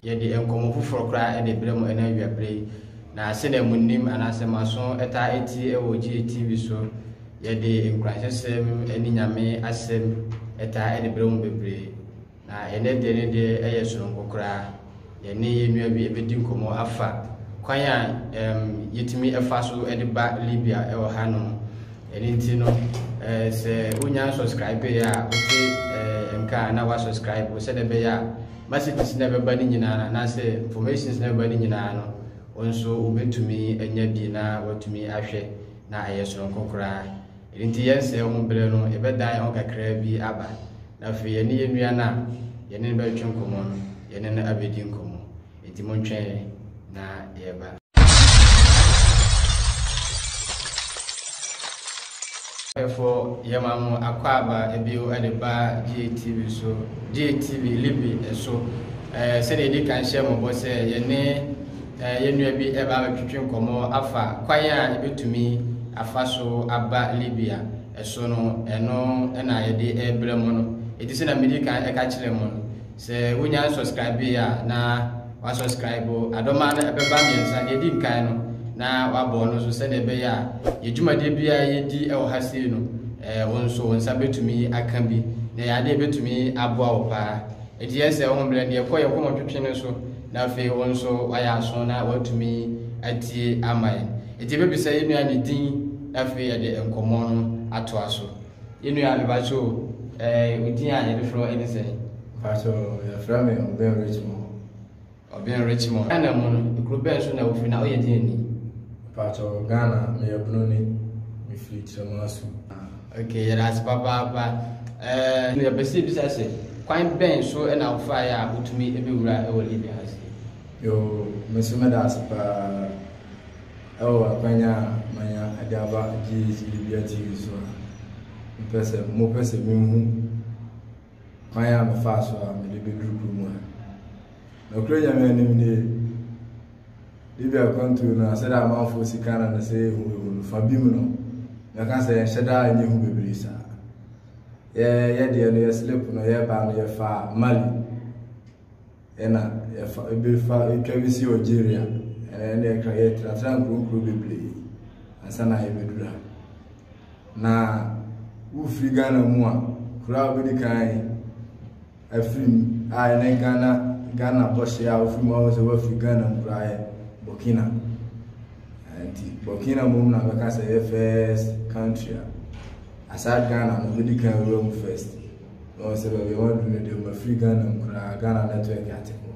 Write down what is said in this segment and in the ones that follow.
yɛde nkɔmmɔ foforɔ koraa de berɛ mu ɛna awiaberɛ yi na sɛdeɛ mo nim anaasɛ mo aso ɛtaa ɛtie ɛwɔ GATV so yɛde nkurasɛsɛm ne nyame asɛm ɛtaa ɛde berɛ mu bebree Na ɛnnɛ deɛ ne deɛ yɛ sononko koraa. Yɛne yɛn nua bi bɛdi nkɔmmɔ afa kwan a ɛɛm yɛtumi fa so de ba Libya wɔ hanom. Ɛno nti no, ɛɛ sɛ wonya subscribe yɛ a, wote ɛɛ nka a na wasubscribe sɛdeɛ ɛbɛyɛ a messages na ɛbɛba no nyinaa no anaasɛ informations na ɛbɛba no nyinaa no wo nso wobɛtumi anya bi na watumi ahwɛ na ɛyɛ sononko koraa. Enti yɛn sɛɛ ho berɛ no, yɛbɛdan yɛn ho kakra bi aba, na afei yɛne yɛn nua no a yɛne no bɛtwe nkɔmmɔ no, yɛne no abɛdi nkɔmmɔ. Enti montwɛn yɛn, na yɛreba. Ɛfo yɛma mo akwaaba bio de ba GATV so, GATV Libre so. Sɛdeɛ yɛdi kan hyɛɛ mo bɔ sɛ yɛne. eh, yɛn nua bi ɛba abɛtwitwe nkɔmmɔ afa kwan a yɛbɛtumi afa so aba Libya ɛso no ɛno ɛna yɛde ɛbrɛ mu no ɛti sɛ na medi kan ɛka kyerɛ mu no sɛ wonya subscribe a na wasubscribe adɔma no ɛbɛba mmiɛnsa deɛ ɛdi nkan no na wabɔ no so sɛdeɛ ɛbɛyɛ a yɛdwumadeɛ bi a yɛdi ɛwɔ ha sei no eh, wo nso wo nsa bɛtumi aka bi na yɛadeɛ bɛtumi aboa wo paa Enti yɛ sɛ ɔhom berɛ deɛ kɔ yɛ kɔn ɔtwetwe no so na afei wo nso ayɛ aso na watumi atie ama yɛn. Enti yɛbɛbisa yɛ nua ne din na afei yɛde nkɔmmɔ no ato aso. Yɛ nua mebakyɛ o, eh, wo din a yɛde frɛ wo ɛne sɛn? Mebakyɛ o, yɛfrɛ me Obeng Richmond. Ɔbɛn Richmond. Ghana mu no, ekuro bɛn so na wofiri na woyɛ deɛn ni? Mpakyɛw, Ghana, meyɛ Broni. Mefiri Kyerɛmasu. Ok, yɛda ase papaapa. Ɛɛ, yɛpɛ sɛ yɛbisa sɛ, kwan bɛn so na wofaeɛ a wotumi bɛwura wɔ Libya ha sei? Yoo, me nso meda ase paa wɔ akwanya a manya de aba GH Libya TV so a. Mepɛ sɛ, mopɛ sɛ menhu. kwan a mefaa so a mede bɛduru kuro mu ha. Nokorɛ Nyame anim nie, ebi akwantuo no a sɛdeɛ amanfoɔ si ka no no sɛ yɛhu yɛhu no fa bi mu no, mɛka sɛ yɛnhyɛ daa nyɛ hu bebree saa. Yɛ yɛdeɛ no yɛ slip no yɛbaa no yɛfaa Mali. Ɛna yɛfa ebi fa etwa bi si Algeria. Ɛna ɛna ɛka yɛ tenatena nkuronkuro bebree ansa na yɛbɛduru ha. Na wofiri Ghana mu a kuro a wobɛdi kan afiri mu a ɛne Ghana Ghana bɔhyɛ a wofiri mu a wɔsɛ wafiri Ghana mu koraa yɛ Burkina. Nti Burkina mu na bɛka sɛ yɛ first country a aside Ghana no wobɛdi kan wura mu first. Na ɔsɛ baabi a wadu no deɛ mafiri Ghana mu koraa Ghana network ate hɔ.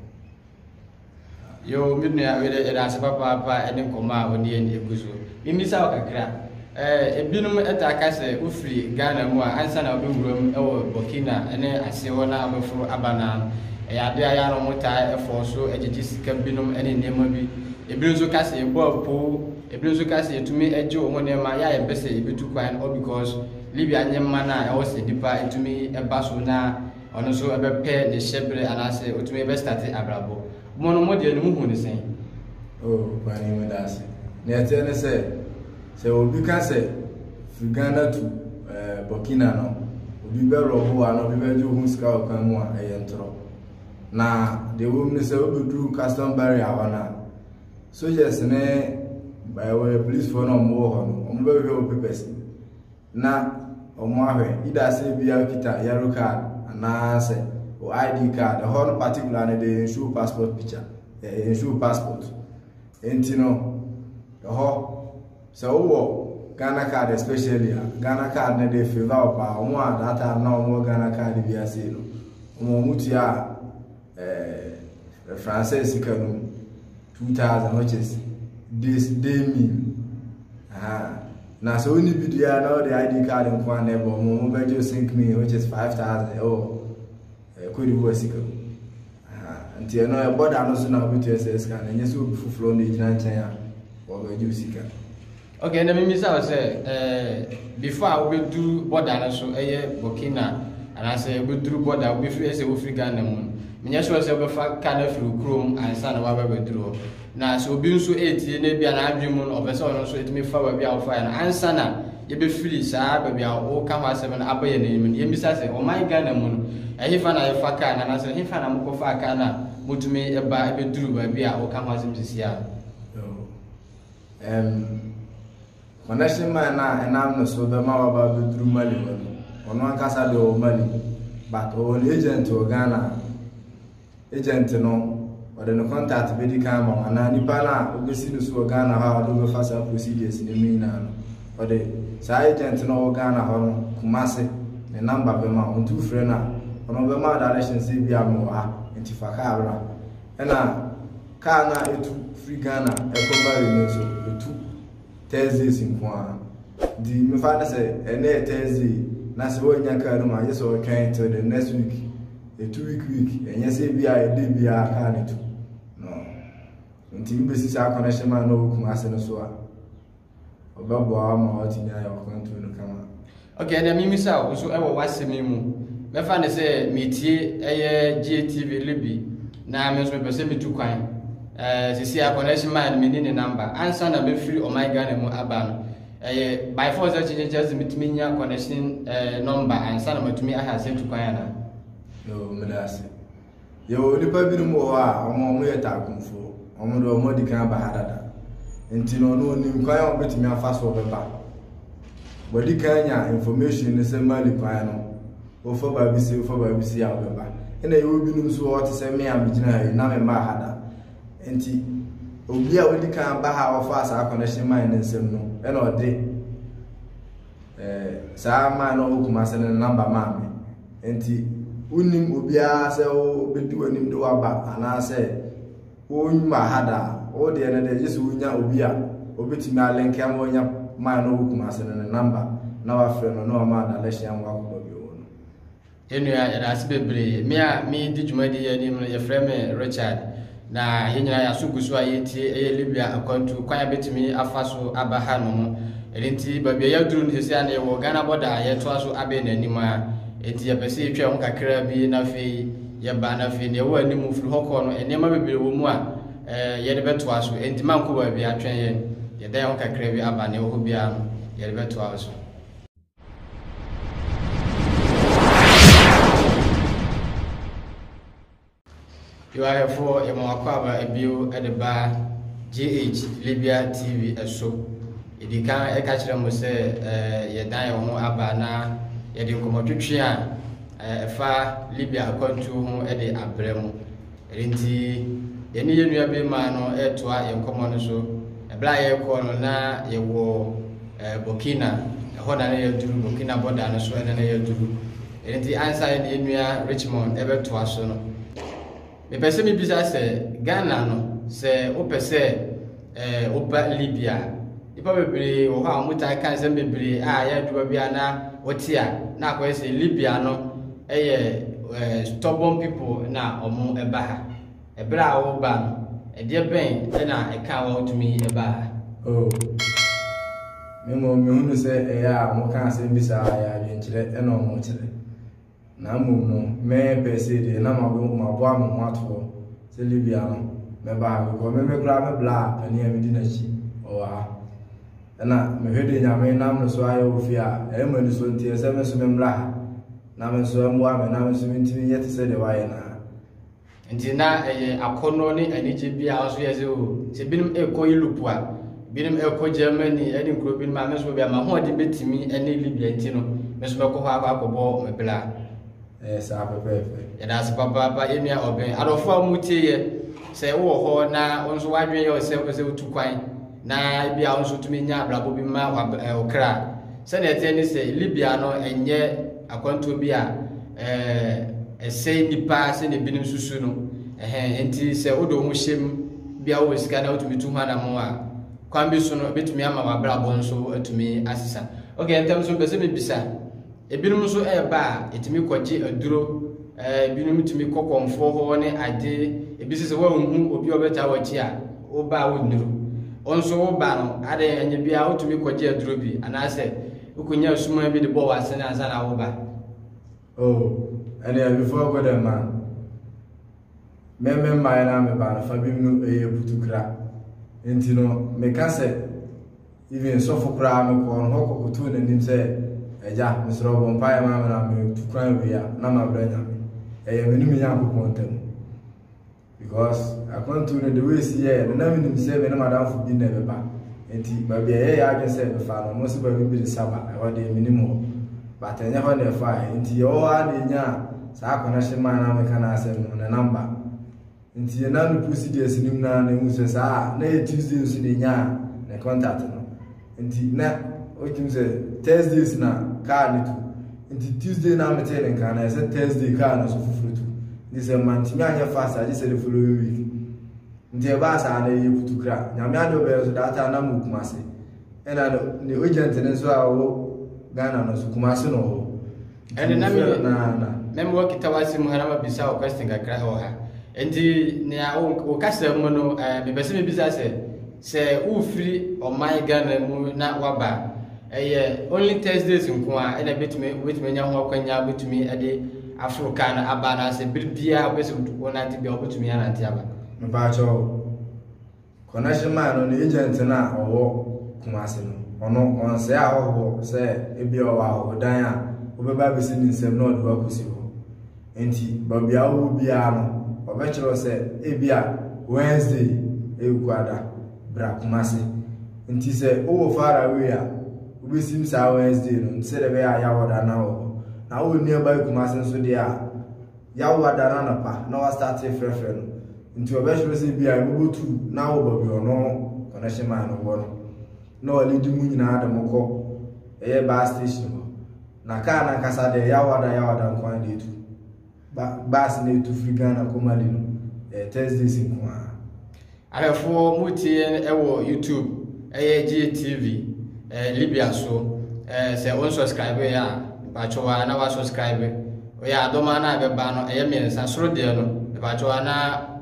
Yo me nua wede yɛda ase papaapa ɛne nkɔmɔ a wode yɛn egu so. Mimmisa wo kakra. Eh, ebinom ɛtaa ka sɛ wofiri Ghana mu a ansa na wobɛwuram ɛwɔ Burkina ɛne ase hɔ na wobɛforo aba no ara no ɛyɛ adeɛ a yɛ a na wɔtaa ɛfɔɔ so ɛgyegye sika binom ɛne nneɛma bi. Ebinom nso ka sɛ yɛbɔ apoo, ebinom nso ka sɛ yɛtumi ɛgye wɔn nneɛma yɛ a yɛmpɛ sɛ yɛbɛtu kwan hɔ because Libya nye man a ɔwɔ sɛ nyimpa tumi ba so na ɔno nso bɛpɛ ne hyɛber anaasɛ otumi bɛstarte abrabɔ. Mo no, mo deɛ no muhu no sɛn? O Panyin meda ase. Nea ɛteɛ ne sɛ, sɛ obi ka sɛ firi Ghana tu Burkina no, obi bɛrɔbo wo anaa obi bɛgye wo ho sika wɔ kwan mu a, ɛyɛ ntorɔ. Na deɛ ɛwɔ mu ne sɛ wobɛduru custom barrier hɔ no a, soldiers ne polisfoɔ no a wɔwɔ hɔ no, wɔbɛhwehwɛ wo papers. na wɔn ahwɛ either sɛ bia okita yellow card anaasɛ o ID card ɛhɔ no particular no de nsuo passport picture ɛɛ nsuo passport nti no ɛhɔ sɛ wowɔ Ghana card especially a Ghana card no de favor wo paa wɔn a that time na wɔn wɔ Ghana card bi ase no wɔn wɔn tua ɛɛ francis sika no mu. two thousand which is this day meal na sɛ wonni bi deɛ na wɔde id card nko a na ɛbɔ mo mobɛgye sink meal which is five thousand ɛwɔ kodi wɔ sika mu nti ɛno ɛbɔ da no so na wobɛtua sɛ sika no ɛnyɛ sɛ obi foforɔ na ɛgyina nkyɛn a wɔbɛgye sika Ok ɛnna memmisa wo sɛ ɛɛ before a wobɛduru bɔda no so ɛyɛ Burkina anaasɛ wobɛduru bɔda wobɛfiri ɛsɛ wofiri Ghana mu no menyɛ sure sɛ wobɛfa ka no afiri kurom ansa na waba bɛduru hɔ na sɛ obi nso ɛretie na ebi a n'adwene mu no ɔpɛ sɛ ɔno nso ɛtumi fa baabi a wofaeɛ no ansa na yɛbɛfiri saa baabi a woka ho asɛm no aba yɛn anim no yɛmmisa sɛ ɔman Ghana mu no ɛhefa na yɛfa kaa no anaasɛ ɛhefa na mokɔfa kaa no a motumi ɛba ɛbɛduru baabi a woka ho asɛm sisi a Ɛm, Manase man no a ɛnam ne so bɛma waba abɛduru Mali hɔ no, ɔno ankasa deɛ ɔwɔ Mali, but ɔwɔ ne agent wɔ Ghana. Agent no, ɔde ne contact bɛdi kan ama wo, anaa nipa no a wobɛsi no so wɔ Ghana hɔ a ɔde wobɛfa saa procedures no mu nyinaa no, ɔde saa agent no a ɔwɔ Ghana hɔ no, Kumase, ne number bɛma wo, nti wofrɛ no a, ɔno ɔbɛma wo direction sɛ ebi a mewɔ ha, nti fa kaa bra. Ɛna Kaa no a etu firi Ghana kɔ Mari no nso, etu Thursdays nko ara. Nti mefa no sɛ, ɛnnɛ yɛ Thursday, na sɛ woannya kaa no mu a, gye sɛ wotwɛn till the next week. Etu week week, ɛnyɛ sɛ ebi a ɛda biara kaa no tu. No. Nti wobɛsi saa connection man na ɔwɔ Kumasi no so a. ɔbɛboa ma watumi ayɛ ɔkwantuo no kama ok ɛnna mimisa wo nso ɛwɔ w'asɛm yi mu mɛfa ne sɛ metie ɛyɛ GATV libi na me nso mepɛ sɛ metu kwan ɛɛ sisi a connection man no menni ne namba ansa na mɛfiri ɔman ghana mu aba no ɛyɛ by force akyekyekyɛ sɛ metumi nya connection ɛɛ nɔmba ansa na matumi aha sɛ tu kwan anaa meda ase Yɛwɔ nnipa binom wɔ hɔ a wɔn a wɔyɛ taakumfoɔ. Wɔn de wɔn adi kan aba ha dada. Nti no ɔno onim kwan a wɔbɛtumi afa so ɔbɛba. Wɔadi kan nya information no sɛ Mali kwan no wɔfa baa bi si wɔfa baa bi si a wɔbɛba. Ɛna yɛwɔ binom nso wɔ hɔ te sɛ me a megyina ha yi na mema ha da. Nti obi a wadi kan aba ha a wɔfa saa connection man ne nsam no ɛna ɔde Eh, saa man no wɔ Kumase no namba maa me. Nti, wonim obiara sɛ wobɛdi w'anim de waba anaasɛ wonwuma ha da a, wo deɛ no deɛ gye sɛ wonya obi a obɛtumi alenkɛ ma wonya man no wɔ Kumase no ne namba na wafrɛ no na wama adalehyia ma wakɔbɔ bio no. Yɛn nua, yɛda ase bebree. Me a medi dwumadi yi anim no, yɛfrɛ me Richard. Na yɛn nyinaa yɛn aso gu so a yɛretie ɛyɛ Libya akwantu kwan a bɛtumi afa so aba ha no ho. Ɛno nti, baabi a yɛaduru no sɛsi a na yɛwɔ Ghana bɔda a yɛtoa so abɛn n'anim a. Enti yɛpɛ sɛ yɛtwa ho kakra bi na afei yɛba na afei deɛ ɛwɔ anim firi hɔ kɔ no, nneɛma bebree wɔ mu a eh, yɛde bɛtoa so. Enti mankɔ baabi atwɛn yɛn. Yɛda yɛn ho kakra bi aba na ɛwɔ hɔ biara no, yɛde bɛtoa so. Yoayɛfoɔ yɛma wakɔaba bio de ba GH Libya TV so. Ɛdi kan ɛka kyerɛ mo sɛ yɛdan yɛn ho aba na yɛde nkɔmmɔtwetwe a ɛfa Libya akwantuo ho de abrɛ mo. Ɛno nti, yɛne yɛn nua barimaa no retoa yɛn nkɔmmɔ no so. Ɛberɛ a yɛrekɔ no, na yɛwɔ eh, Burkina. Ɛhɔ na na yɛaduru, Burkina bɔda no so ɛna na yɛaduru. Ɛno nti, ansa yɛne yɛn nua Richmond ɛbɛtoa so no, mepɛ sɛ mebisa sɛ, Ghana no, sɛ wopɛ sɛ Eh, woba Libya a, nnipa bebree wɔ hɔ a wɔtaa ka nsɛm bebree a ɛyɛ adwuma bi a na wɔte a na akɔyɛ sɛ Libya no yɛ eh, stubborn people na wɔn ɛba ha. Ɛberɛ a woba no, ɛdeɛ bɛn na ɛka wɔn wotumi ɛba ha? Oh, me mmom mehunu sɛ ɛyɛ a wɔka asɛm bi saa yɛ adwenkyerɛ na wɔkyerɛ. Na mmom no, me per se deɛ na maboa maboa me ho ato hɔ sɛ Libya no mɛba ha because me me koraa me bla panin a medi n'akyi ɔwɔ ha ɛna mehwɛ deɛ nyame nam no so ayɛ wɔ fie a ɛyɛ ma ni so nteɛ sɛ me nso me mmra ha na me nso ɛmmoa me na me nso mentumi nyɛ te sɛ deɛ wayɛ no Nti na ɛyɛ akɔnnɔ ne anigye bi a ɔso yɛ sɛ o, sɛ binom rekɔ Europe a, binom rekɔ Germany ne nkuro binom a, me nso baabi a m'ahoɔden bɛtumi ne Libya nti no, me nso mɛkɔ hɔ akɔ akɔbɔ me bra. Ɛyɛ saa pɛpɛɛpɛ. Yɛda ase papaapa yɛn nua ɔbɛn. Adɔfo a wɔtie yɛ sɛ wowɔ hɔ na wo nso w'adwene yɛ wo sɛ wopɛ sɛ wotu kwan na ebia wo nso tumi nya abrabɔ bi ma wo kra. Sɛnea ɛteɛ ne sɛ Libya no ɛnyɛ akwantuo bi a ɛsɛe nnipa sɛnea ebinom susu no. Ɛhɛn nti sɛ wode wo ho hyɛ mu bia wowɔ sika na wotumi tu ho anamɔ a kwan bi so no ebetumi ama w'abrabɔ nso atumi asesa. Okay, ntɛm so mpɛ sɛ mebisa Ebinom nso reba a, etumi kɔgye aduro, eh, ebinom tumi kɔ kɔmfoɔ hɔ ne ade, ebi sɛ sɛ woanhu obi a ɔbɛtaa w'akyi a, woba a wonnuru. Wo nso woba no, ade ɛnyɛ biara wotumi kɔgye aduro bi, anaasɛ wokɔnya asuman bi de bɔ w'asene ansa na woba. Oh, ɛnea before I go there ma me me mmaeɛ no a meba no fa bi mu no ɛyɛ putukra. Nti no, meka sɛ. Even sɔfo koraa no kɔɔ no hɔ kɔkotow n'anim sɛ, Agya, mesrɛ wo bɔ mpaeɛ ma me na metu kwan awie a na mabrɛ Nyame. Ɛyɛ me ne me Nyankopɔn ntam. Because akwantuo no the way si yɛɛ no na menim sɛ me ne madamfo bi na ɛbɛba. Nti baabi a ɛyɛ yɛ adwene sɛ mefa no, ɔmo nso baabi bi de Saba, ɛhɔ deɛ menim hɔ. But ɛnyɛ hɔ na ɛfaeɛ. Nti yɛwɔ hɔ ara na ɛnyaa saa connection maa na meka n'asɛm no, ne number. nti yɛn nan no procedures nim na na ehu sɛ saa a na yɛ tuesday nso na enya ne contact no nti na otum sɛ thursdays na car no tu nti tuesday na mete ne nka na ɛsɛ thursday car no nso foforo tu nti sɛ mantumi anyɛ fast agye sɛ the following week nti ɛbaa saa na yɛ kutu kra nyame ade ɔbɛyɛ nso data na mu kuma se ɛna ne agent no nso a ɔwɔ ghana no nso kuma se na ɔwɔ ɛne na mɛmewɔ kitawa se mu ha na mabisa wo question kakra wɔ ha nti nea wo kasa mu no mepɛ sɛ mebisa sɛ sɛ wofiri ɔman ghana mu na waba ɛyɛ only thursdays nko a ɛna bɛtumi wobɛtumi anya ho akwanya wobɛtumi de aforo kaa no aba anaasɛ bere biaa wobɛsɛ wonante bia wobɛtumi anante aba mepaakyɛw Connection man no ne agent no a ɔwɔ Kumasi no, ɔno ɔnsɛe ahɔhoɔ sɛ ebi ɔwɔ ahɔhodan a wobɛba abɛsi ne nsam na ɔde wakɔsi hɔ. Enti baabi a wowɔ biara no, ɔbɛkyerɛ wo sɛ ebi a Wednesday ɛyɛ kuada, bra Kumasi. Nti sɛ wowɔ far away a, wobɛsim saa Wednesday no nti sɛdeɛ ɛbɛyɛ a yɛawɔ da no awɔ hɔ. Na wowɔ nearby Kumasi nso deɛ a, yawo ada no anapa na wɔastate refrɛfrɛ no nti wɔbɛkyerɛ sɛ bi a ɛbɛbɔ tu na awɔ baabi ɔno connection man no wɔ no na ɔlidi mu nyinaa de mo kɔ ɛyɛ bus station hɔ na kaa no ankasa deɛ yawo ada yawo ada nko ara na ɛtu bus na ɛtu firi Ghana kɔ Mali no ɛyɛ Thursdays nko ara Ayɛfoɔ mo tie yɛn ɛwɔ YouTube ɛyɛ Gye TV ɛɛ Libya so ɛɛ sɛ wɔn subscribe yɛ a mpatsɔ wa na wa subscribe ɔyɛ adɔma na ɛbɛba no ɛyɛ mmiɛnsa soro deɛ no mpatsɔ wa na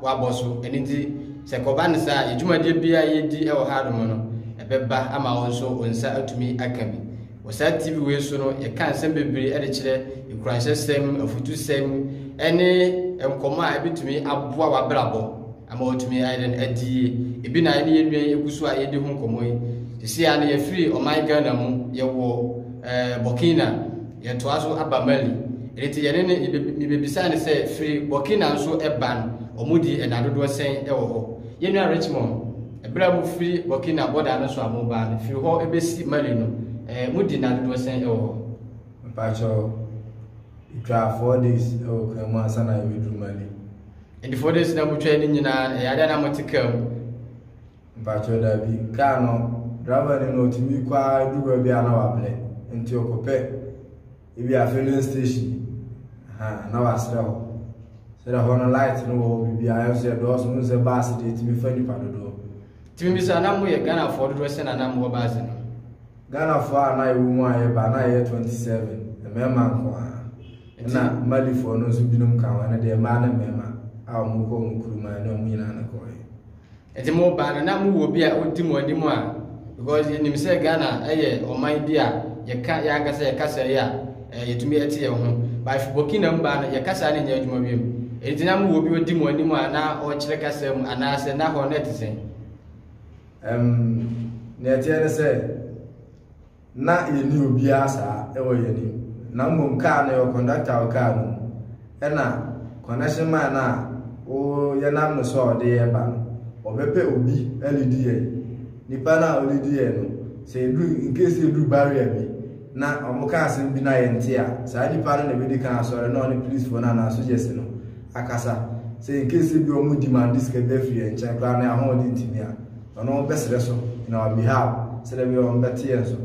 wabɔ so ɛni nti sɛ kɔba ne saa yɛ dwumadie bia yɛ di ɛwɔ ha nom no ɛbɛba ama wɔn nso wɔn nsa atumi aka bi. Wɔ saa TV wei so no, yɛka nsɛm bebree de kyerɛ nkuranhyɛsɛm, afutusɛm, ne nkɔmmɔ a ebetumi aboa w'abrabɔ ama watumi ayɛ dɛn adi yie. Ebi na ɛne yɛn nua yi egu so a yɛdi ho nkɔmmɔ yi. Sisi a no yɛfiri ɔman Ghana mu, yɛwɔ eh, Burkina, yɛtoa so aba Mali. Ɛno nti yɛne ne mebebisa ne sɛ firi Burkina nso ɛba no, wɔn di ɛna dodoɔ sɛn ɛwɔ hɔ. Yɛn nua Richmond, Bere a mufiri Burkina bɔda no so a moreba no, firi hɔ besi Mali no, eh, mudi nna dodoɔ sɛn wɔ hɔ? Mpakyɛw, yetwaa four days wɔ kar mu ansa na yɛbɛduru Mali. And the four days na motwae no nyinaa, ɛyɛ adeɛ na mote kar mu? Mpakyɛw, daabi. Kar no, driver no na otumi kɔ ara du baabi a na wabrɛ, nti ɔkɔpɛ ebi a filling station ha na wasrɛ hɔ sɛdɛ hɔ no light no wɔ hɔ biribiara nso yɛ dɔɔso no sɛ baase deɛ tumi fa nipa dodoɔ tumi bi sɛ anam yɛ ghanafoɔ dodoɔ sɛ nanam wɔ baase no ghanafoɔ a na ɛwɔ mu a yɛba na ɛyɛ 27 mmarima nko a ɛna malifoɔ no nso binom ka ho ɛno deɛ mmaa ne mmarima a wɔkɔ wɔn kuruma ne wɔn nyinaa no kɔɛ Nti mo ba no na mo wɔ obi a odi mo anim a because yɛ nim sɛ Ghana ɛyɛ ɔman bi a yɛ ka yɛ ankasa yɛ kasa yi a ɛɛ yɛ tumi ɛte yɛ ho ba if Burkina mo ba no yɛ kasa no nyɛ adwuma wiem nti na mo wɔ obi odi mo anim a na ɔkyerɛ kasa mu anaasɛ na hɔ no ɛte sɛn. Um, nea ɛteɛ ne sɛ. na yɛnni obiara saa wɔ yɛn anim, na mmom kaa no yɛwɔ kɔndɔkta a ɔkaa no mu, ɛna connection man no a wo yɛnam no so a ɔde yɛn ba no, ɔbɛpɛ obi alidi yɛn. Nipa no a ɔlidi yɛn no, sɛ yɛduru, in case sɛ yɛduru barrier bi, na wɔka asɛm bi na yɛnte a, saa nipa no na ɛbɛdi kan asɔre na ɔne policefoɔ no anaa sogyɛse no akasa. Sɛ in case sɛ bi wɔn demande sika bi afiri yɛn nkyɛn koraa na yɛn ahoɔden ntumi a, Ɔno bɛsrɛ so in our behalf sɛdeɛ bɛyɛ ɔmbɛte yɛn so.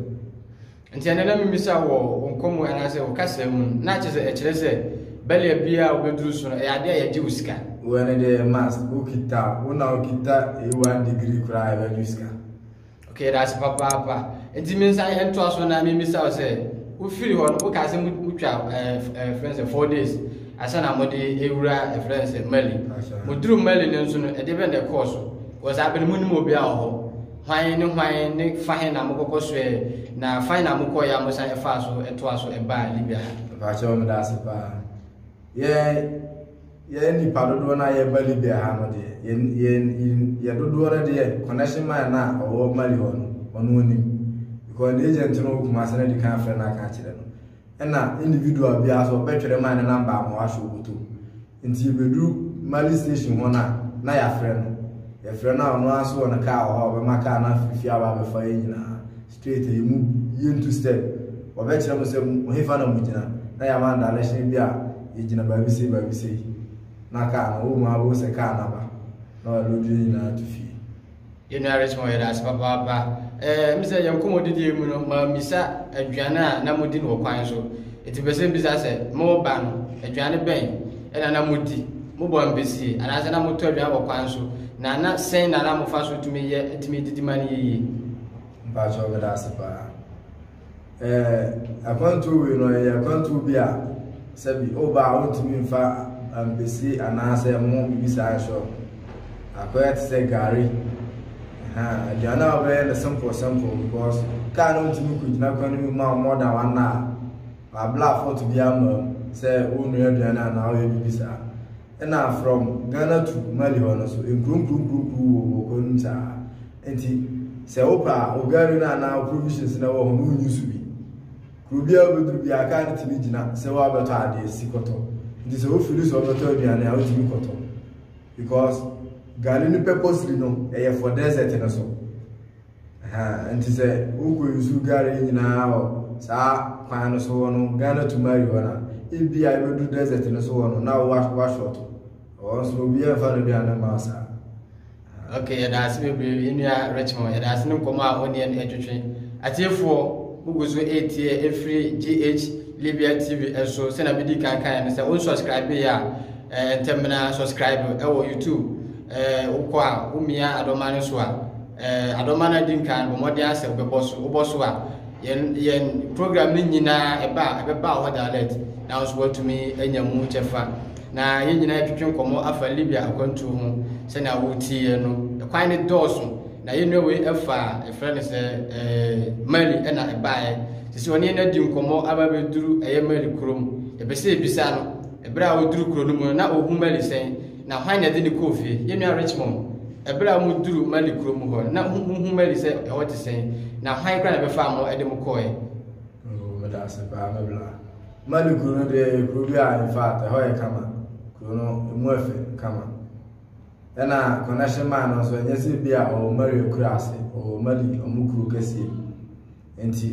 Nti ɛnɛ na mimisa wɔ wo nkɔmmɔ anaasɛ wo kasa mu no, na kyerɛ sɛ ɛkyerɛ sɛ bɛlea biara a wobɛduru so no, ɛyɛ adeɛ a yɛgye wo sika. Wo ɛne deɛ yɛ must, wokita, wo na wokita ɛyi one degree koraa a yɛbɛgye wo sika. Okay, yɛda ase papaapa. Nti me nsa ntoa so na mimisa wo sɛ, wofiri hɔ no, wokaa sɛ motwa ɛɛ ɛɛ fɛn sɛ four days. Ansa na wɔde rewura ɛfrɛ no sɛ Mali. Wɔduruu Mali no nso no, ɛde bɛn na ɛkɔɔ so? Wɔ saa bere no monim obiara wɔ hɔ? Hwan ne hwan ne fa he na mokɔkɔ soɛɛ, na fa he na mokɔɔe a mosan faa so toaa so baa Libya ha? Mpakyɛw meda ase paa. Yɛn yɛn nipa dodoɔ no a yɛba Libya ha no deɛ, yɛn yɛn yɛn dodoɔ no deɛ connection man no a ɔwɔ Mali hɔ no, ɔno onim. Because ne agent no wɔ Kumasi no de kan afrɛ no aka akyerɛ no. Ɛna individual biara so ɔbɛtwɛrɛ ma ne number ama wahyɛ ɔbɔtɔ mu. Nti yɛbɛduru Mali station hɔ no a, na yɛafrɛ no. Yɛfrɛ no a ɔno ara nso wɔ ne car wɔ hɔ a ɔbɛma car no afiri fie aba abɛfa yɛn nyinaa straight a yɛmu yɛntu step. Ɔbɛkyerɛ mo sɛ mo hefa na mogyina na yɛama no direction bi a yɛgyina baabi sei baabi sei na car no, ɔwɔ mu ara wobɛhu sɛ car no aba na wɔaload yɛn nyinaa atu fie. Yɛn nua Richmond, yɛda ase papaapa. Ɛɛ, mi sɛ yɛn nkɔmmɔdidie mu no, maa misa aduane a na modi no wɔ kwan so. Eti pɛ sɛ mbisa sɛ, mo ba no, aduane bɛn ɛna na modi? Mobɔ mpesie anaasɛ na motɔ aduane wɔ kwan so? Na na sɛn na na mofa so tumi yɛ tumi didi ma no yiye? Mpakyɛw meda ase paa. eh, akwantuo wei no ɛyɛ akwantuo bi a sɛbi woba a wontumi mfa ampesi anaasɛ ɛmo biribi saa nhyɛ akɔyɛ te sɛ gari aduane a wobɛyɛ no simple simple because kaa no ntumi kɔgyina kwan no mu ma more than one hour wabla afɔto bi ama mu sɛ wonua aduane anaa woyɛ biribi saa na from Ghana to Mali hɔ no so nkuronkuronkuronkuro wɔ wɔ kwan mu saa nti sɛ wopɛ a ogari no anaa provisions na wɔ hɔ no wonyi so bi kuro biara wobɛduru biara kaa no tumi gyina sɛ woabɛtɔ adeɛ si kɔtɔ nti sɛ wofiri sɛ wobɛtɔ aduane a wotumi kɔtɔ because gari no purposely no ɛyɛ for desert no so Ahaa nti sɛ wokɔ nsu gare nyinaa wɔ saa kwan no so hɔ no Ghana to Mali hɔ na ebi a ebedu desert no so hɔ no na wa wa short ɔwɔ nso obi yɛ nfa no duane ma saa. Okay, yɛda ase bebree enua Richmond, yɛda ase ne nkɔmɔ a ɔne ɛne ɛtwetwe. Atiefoɔ, mugu so etie efiri GH Libya TV ɛso sɛnea medi kan kan no sɛ onsubscribe yɛ a ɛɛ ntɛmina subscribe ɛwɔ YouTube ɛɛ wokɔ a womia adɔma no so a Eh, adɔma no adi nkan bɔ mmɔden asɛ wobɛbɔ so wobɔ so a yɛn yɛn program no nyinaa ɛba a ɛbɛba hɔ direct na nso watumi anya mu kyɛfa na yɛn nyinaa yɛtwetwe nkɔmmɔ afa libya akwantuo ho sɛnea wotiiɛ no ɛkwan no dɔɔso na yɛnnua wei ɛfa ɛfrɛ no sɛ eh, mali ɛna ɛbaeɛ te sɛ ɔne no adi nkɔmmɔ aba bɛduru ɛyɛ mali kurom ɛpɛ sɛ ɛbisa no ɛberɛ a ɔduru kuro no mu no na ɔhu mali sɛn Na hwan na ɛde no kɔɔ fie? Yɛn nua Richmond. Bere a muduruu Mali kurow mu hɔ no, na muhu Mali sɛ ɛhɔ te sɛn? Na hwan koraa na ɛbɛfaa mo de mo kɔe? Oh, meda ase paa, me bra. Mali kurow no deɛ yɛ kurow bi a in fact ɛhɔ yɛ kama. Kurow no emu yɛ fɛ kama. Ɛna connection man no nso ɛnyɛ sɛ bi a ɔwɔ Mali akura ase, ɔwɔ Mali ɔmo kurow kɛseɛ bi. nti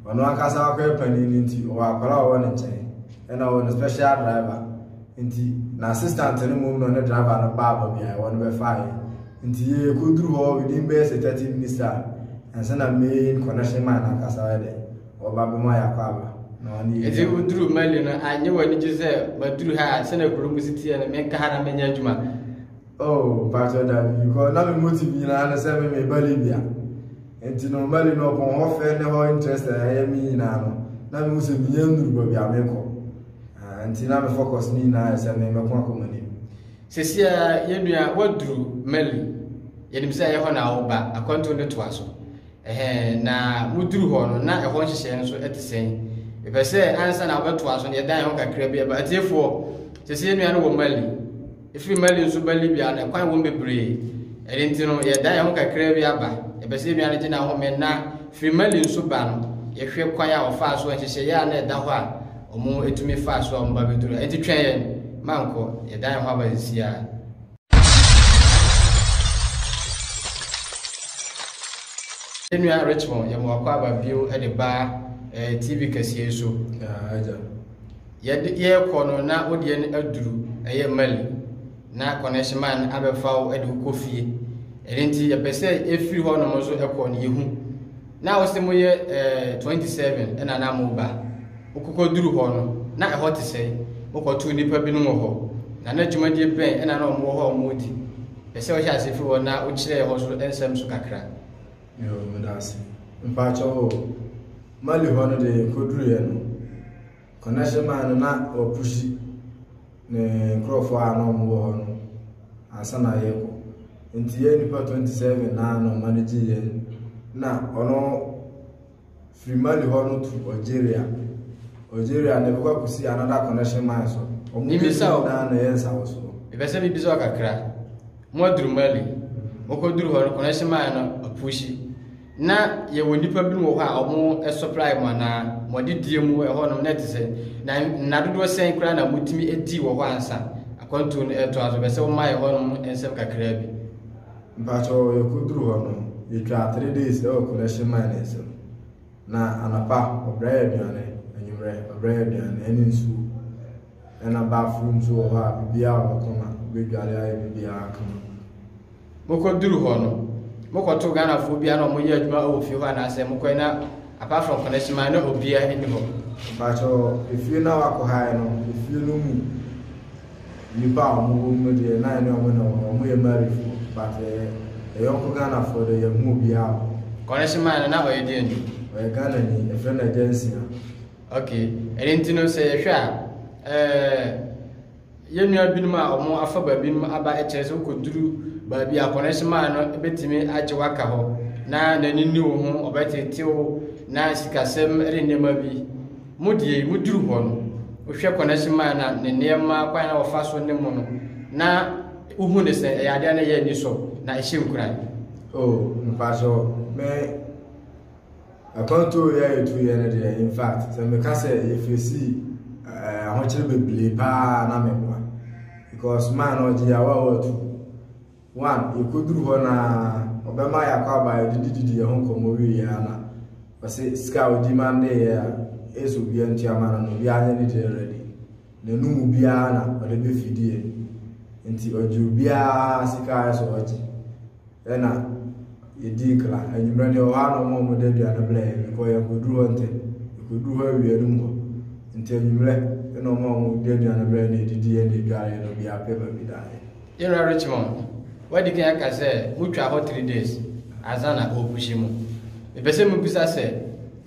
ɔno ankasa akɔyɛ panin no nti ɔwɔ akwadaa a ɔwɔ ne nkyɛn ɛna ɔwɔ ne special driver nti na assistant no mmom na ɔne driver no baa baabi a ɛwɔ no bɛfaeɛ nti yɛkɔduru hɔ within bɛyɛ sɛ 30 minutes a ɛnsa na main connection man ankasa yɛ dɛ ɔba bɛma yɛakɔ aba na ɔne yɛ ɛti woduru mali no anyɛ w'ani gye sɛ maduru ha sɛna kuro mu si teɛ no menka ha na menyɛ adwuma Oh, mpakyɛ dabi, because na me motive nyinaa ne sɛ me me ba Libya. Nti no mali no ɔpɔn hɔ fɛ ne hɔ interest a ɛyɛ me nyinaa no, na me hu sɛ menyɛ nnuru baabi a mekɔ. Ah, nti na me focus ne nyinaa sɛ me mɛko akɔ m'anim. Sesia yɛnua waduru mali, yɛnim sɛ ɛyɛ hɔ na woba, akwantuo no toa so. Ɛhɛn, na moduru hɔ no, na ɛhɔ nhyehyɛe no so ɛte sɛn? Mepɛ sɛ ansa na wobɛtoa so no yɛdan ho kakra bi ɛba atiefoɔ, sesia yɛnua no wɔ mali. Ɛfiri Mali nso ba Libya no, ɛkwan wom bebree. Ɛno nti no, yɛdan yɛn ho kakraa bi aba. Yɛpɛ sɛ yɛn nua no gye n'ahome na firi Mali nso ba no, yɛhwɛ kwan a ɔfaa so a nhyehyɛeɛ a na ɛda hɔ a wɔtumi faa so a wɔba bɛduru. Ɛnti twɛn yɛn, mankɔ. Yɛdan yɛn ho aba sisi ara. Yɛn nua Richmond, yɛma wakɔ aba bio de ba eh, TV kɛseɛ so. Yeah, Yɛde yɛrekɔ no na wo deɛ no aduru ɛyɛ Mali na connection man abɛfa wo de wokɔ fie ɛno nti yɛpɛ sɛ ɛfiri hɔ nom nso ɛkɔ no yɛhu na wo sɛ moyɛ eh, 27 ɛna na mo ba wokɔkɔ duru hɔ no na ɛhɔ te sɛ wokɔto nnipa binom wɔ hɔ na na dwumadie bɛn ɛna na ɔmo wɔ hɔ ɔmo di pɛ sɛ wohyɛ ase firi hɔ na wokyerɛ hɔ so nsɛm so kakra Yo, meda ase. Mpakyɛ o, Mali hɔ no deɛ yɛkɔduruiɛ no, Connection man no na wa pushi ne nkorɔfoɔ a na ɔmo wɔ hɔ no ansa na yɛɛkɔ nti yɛɛ nipa 27 na na ɔma no gye yɛn na ɔno firi Mali hɔ no tu Algeria Algeria na ɛbɛkɔ akusi another connection man so ɔmo Mibisa o. na na yɛ nsawo soɔ. Mepɛ sɛ mibisa wo kakra, mo aduru Mali, mo kɔ duru hɔ no connection man no apushi. Na yɛwɔ nnipa binom wɔ hɔ a wɔn supply mu anaa wɔn adedie mu ɛhɔ nom na ɛte sɛ na nna dodoɔ sɛn koraa na motumi adi wɔ hɔ ansa akwantuo no ɛtoa so bɛsɛ wɔma ɛhɔ nom nsɛm kakraa bi. Mpakyɛ yɛkɔduru hɔ no yɛtwaa three days ɛwɔ collection mine no nsɛm na anapa ɔbrɛ yɛ aduane anwummerɛ ɔbrɛ yɛ aduane ɛne nsuo ɛna bathroom nso wɔ hɔ a biribiara wɔ hɔ kama wobɛdware ayɛ biribiara kama. mokɔduru hɔ no, mokɔto Ghanafoɔ biara na wɔyɛ adwuma wɔ fie hɔ anaasɛ mokɔɛ na apart from Koneshima na obiara nni hɔ? Mpakyɛ efie no a wakɔhaɛ no efie no mu nnipa a wɔn wɔ mu no deɛ na yɛne wɔn na wɔn yɛ Marifoɔ but yɛyɔnko Ghanafoɔ deɛ yɛnhu obiara wɔ hɔ. Koneshima no na ɔyɛ deɛn ni? Ɔyɛ Ghanani, yɛfrɛ no Agyansia. Okay, ɛno nti no sɛ yɛhwɛ a ɛɛ Yɛn nua binom a wɔafa baabinom aba kyerɛ sɛ wokɔduru baabi a connection man no bɛtumi agye waka hɔ na n'ani nni wo ho, ɔbɛtete wo na sikasɛm ne nneɛma bi. Mo deɛ yi, moduru hɔ no, wohwɛ connection man na ne nneɛma kwan na wɔfa so ne mo no, na wohu ne sɛ ɛyɛ adeɛ a na ɛyɛ anisɔ na ɛhyɛ nkuran. Oh, mfasoɔ, me. Akwantuo yɛ yɛtu yɛ no deɛ in fact sɛ meka sɛ yɛfɛsi eh, ahokyere bebree paa na memoa because maa na ɔgye yɛawa a wɔatu one yɛkɔduru hɔ na ɔbɛma yɛakɔ aba yɛdedididi yɛ ho nkɔmmɔ wieɛ a na ɔse sika a ɔdi ma ndeeɛ a ɛsɛ obia ntua ma no no obia nyɛ ne deɛ ready na ɛno mu biara na ɔde bɛ fidiɛ nti ɔgye obiara sika ayɛ sɛ ɔgye ɛna yɛdii kra anwummerɛ deɛ ɔhɔ a na ɔma ɔmɔda aduane blɛ yɛ mekɔ yɛ nkɔduru hɔ ntɛ ɛkɔduru hɔ awia no mu hɔ nti anwummerɛ ɛna ɔma ɔmɔda aduane blɛ na ɛdidi yɛ na ɛdware yɛ na obiara pɛ baabi daeɛ General Richmond, wadi kan aka sɛ motwaa hɔ three days ansa na ɔrepuhyi mo. Mepɛ sɛ mubisa sɛ,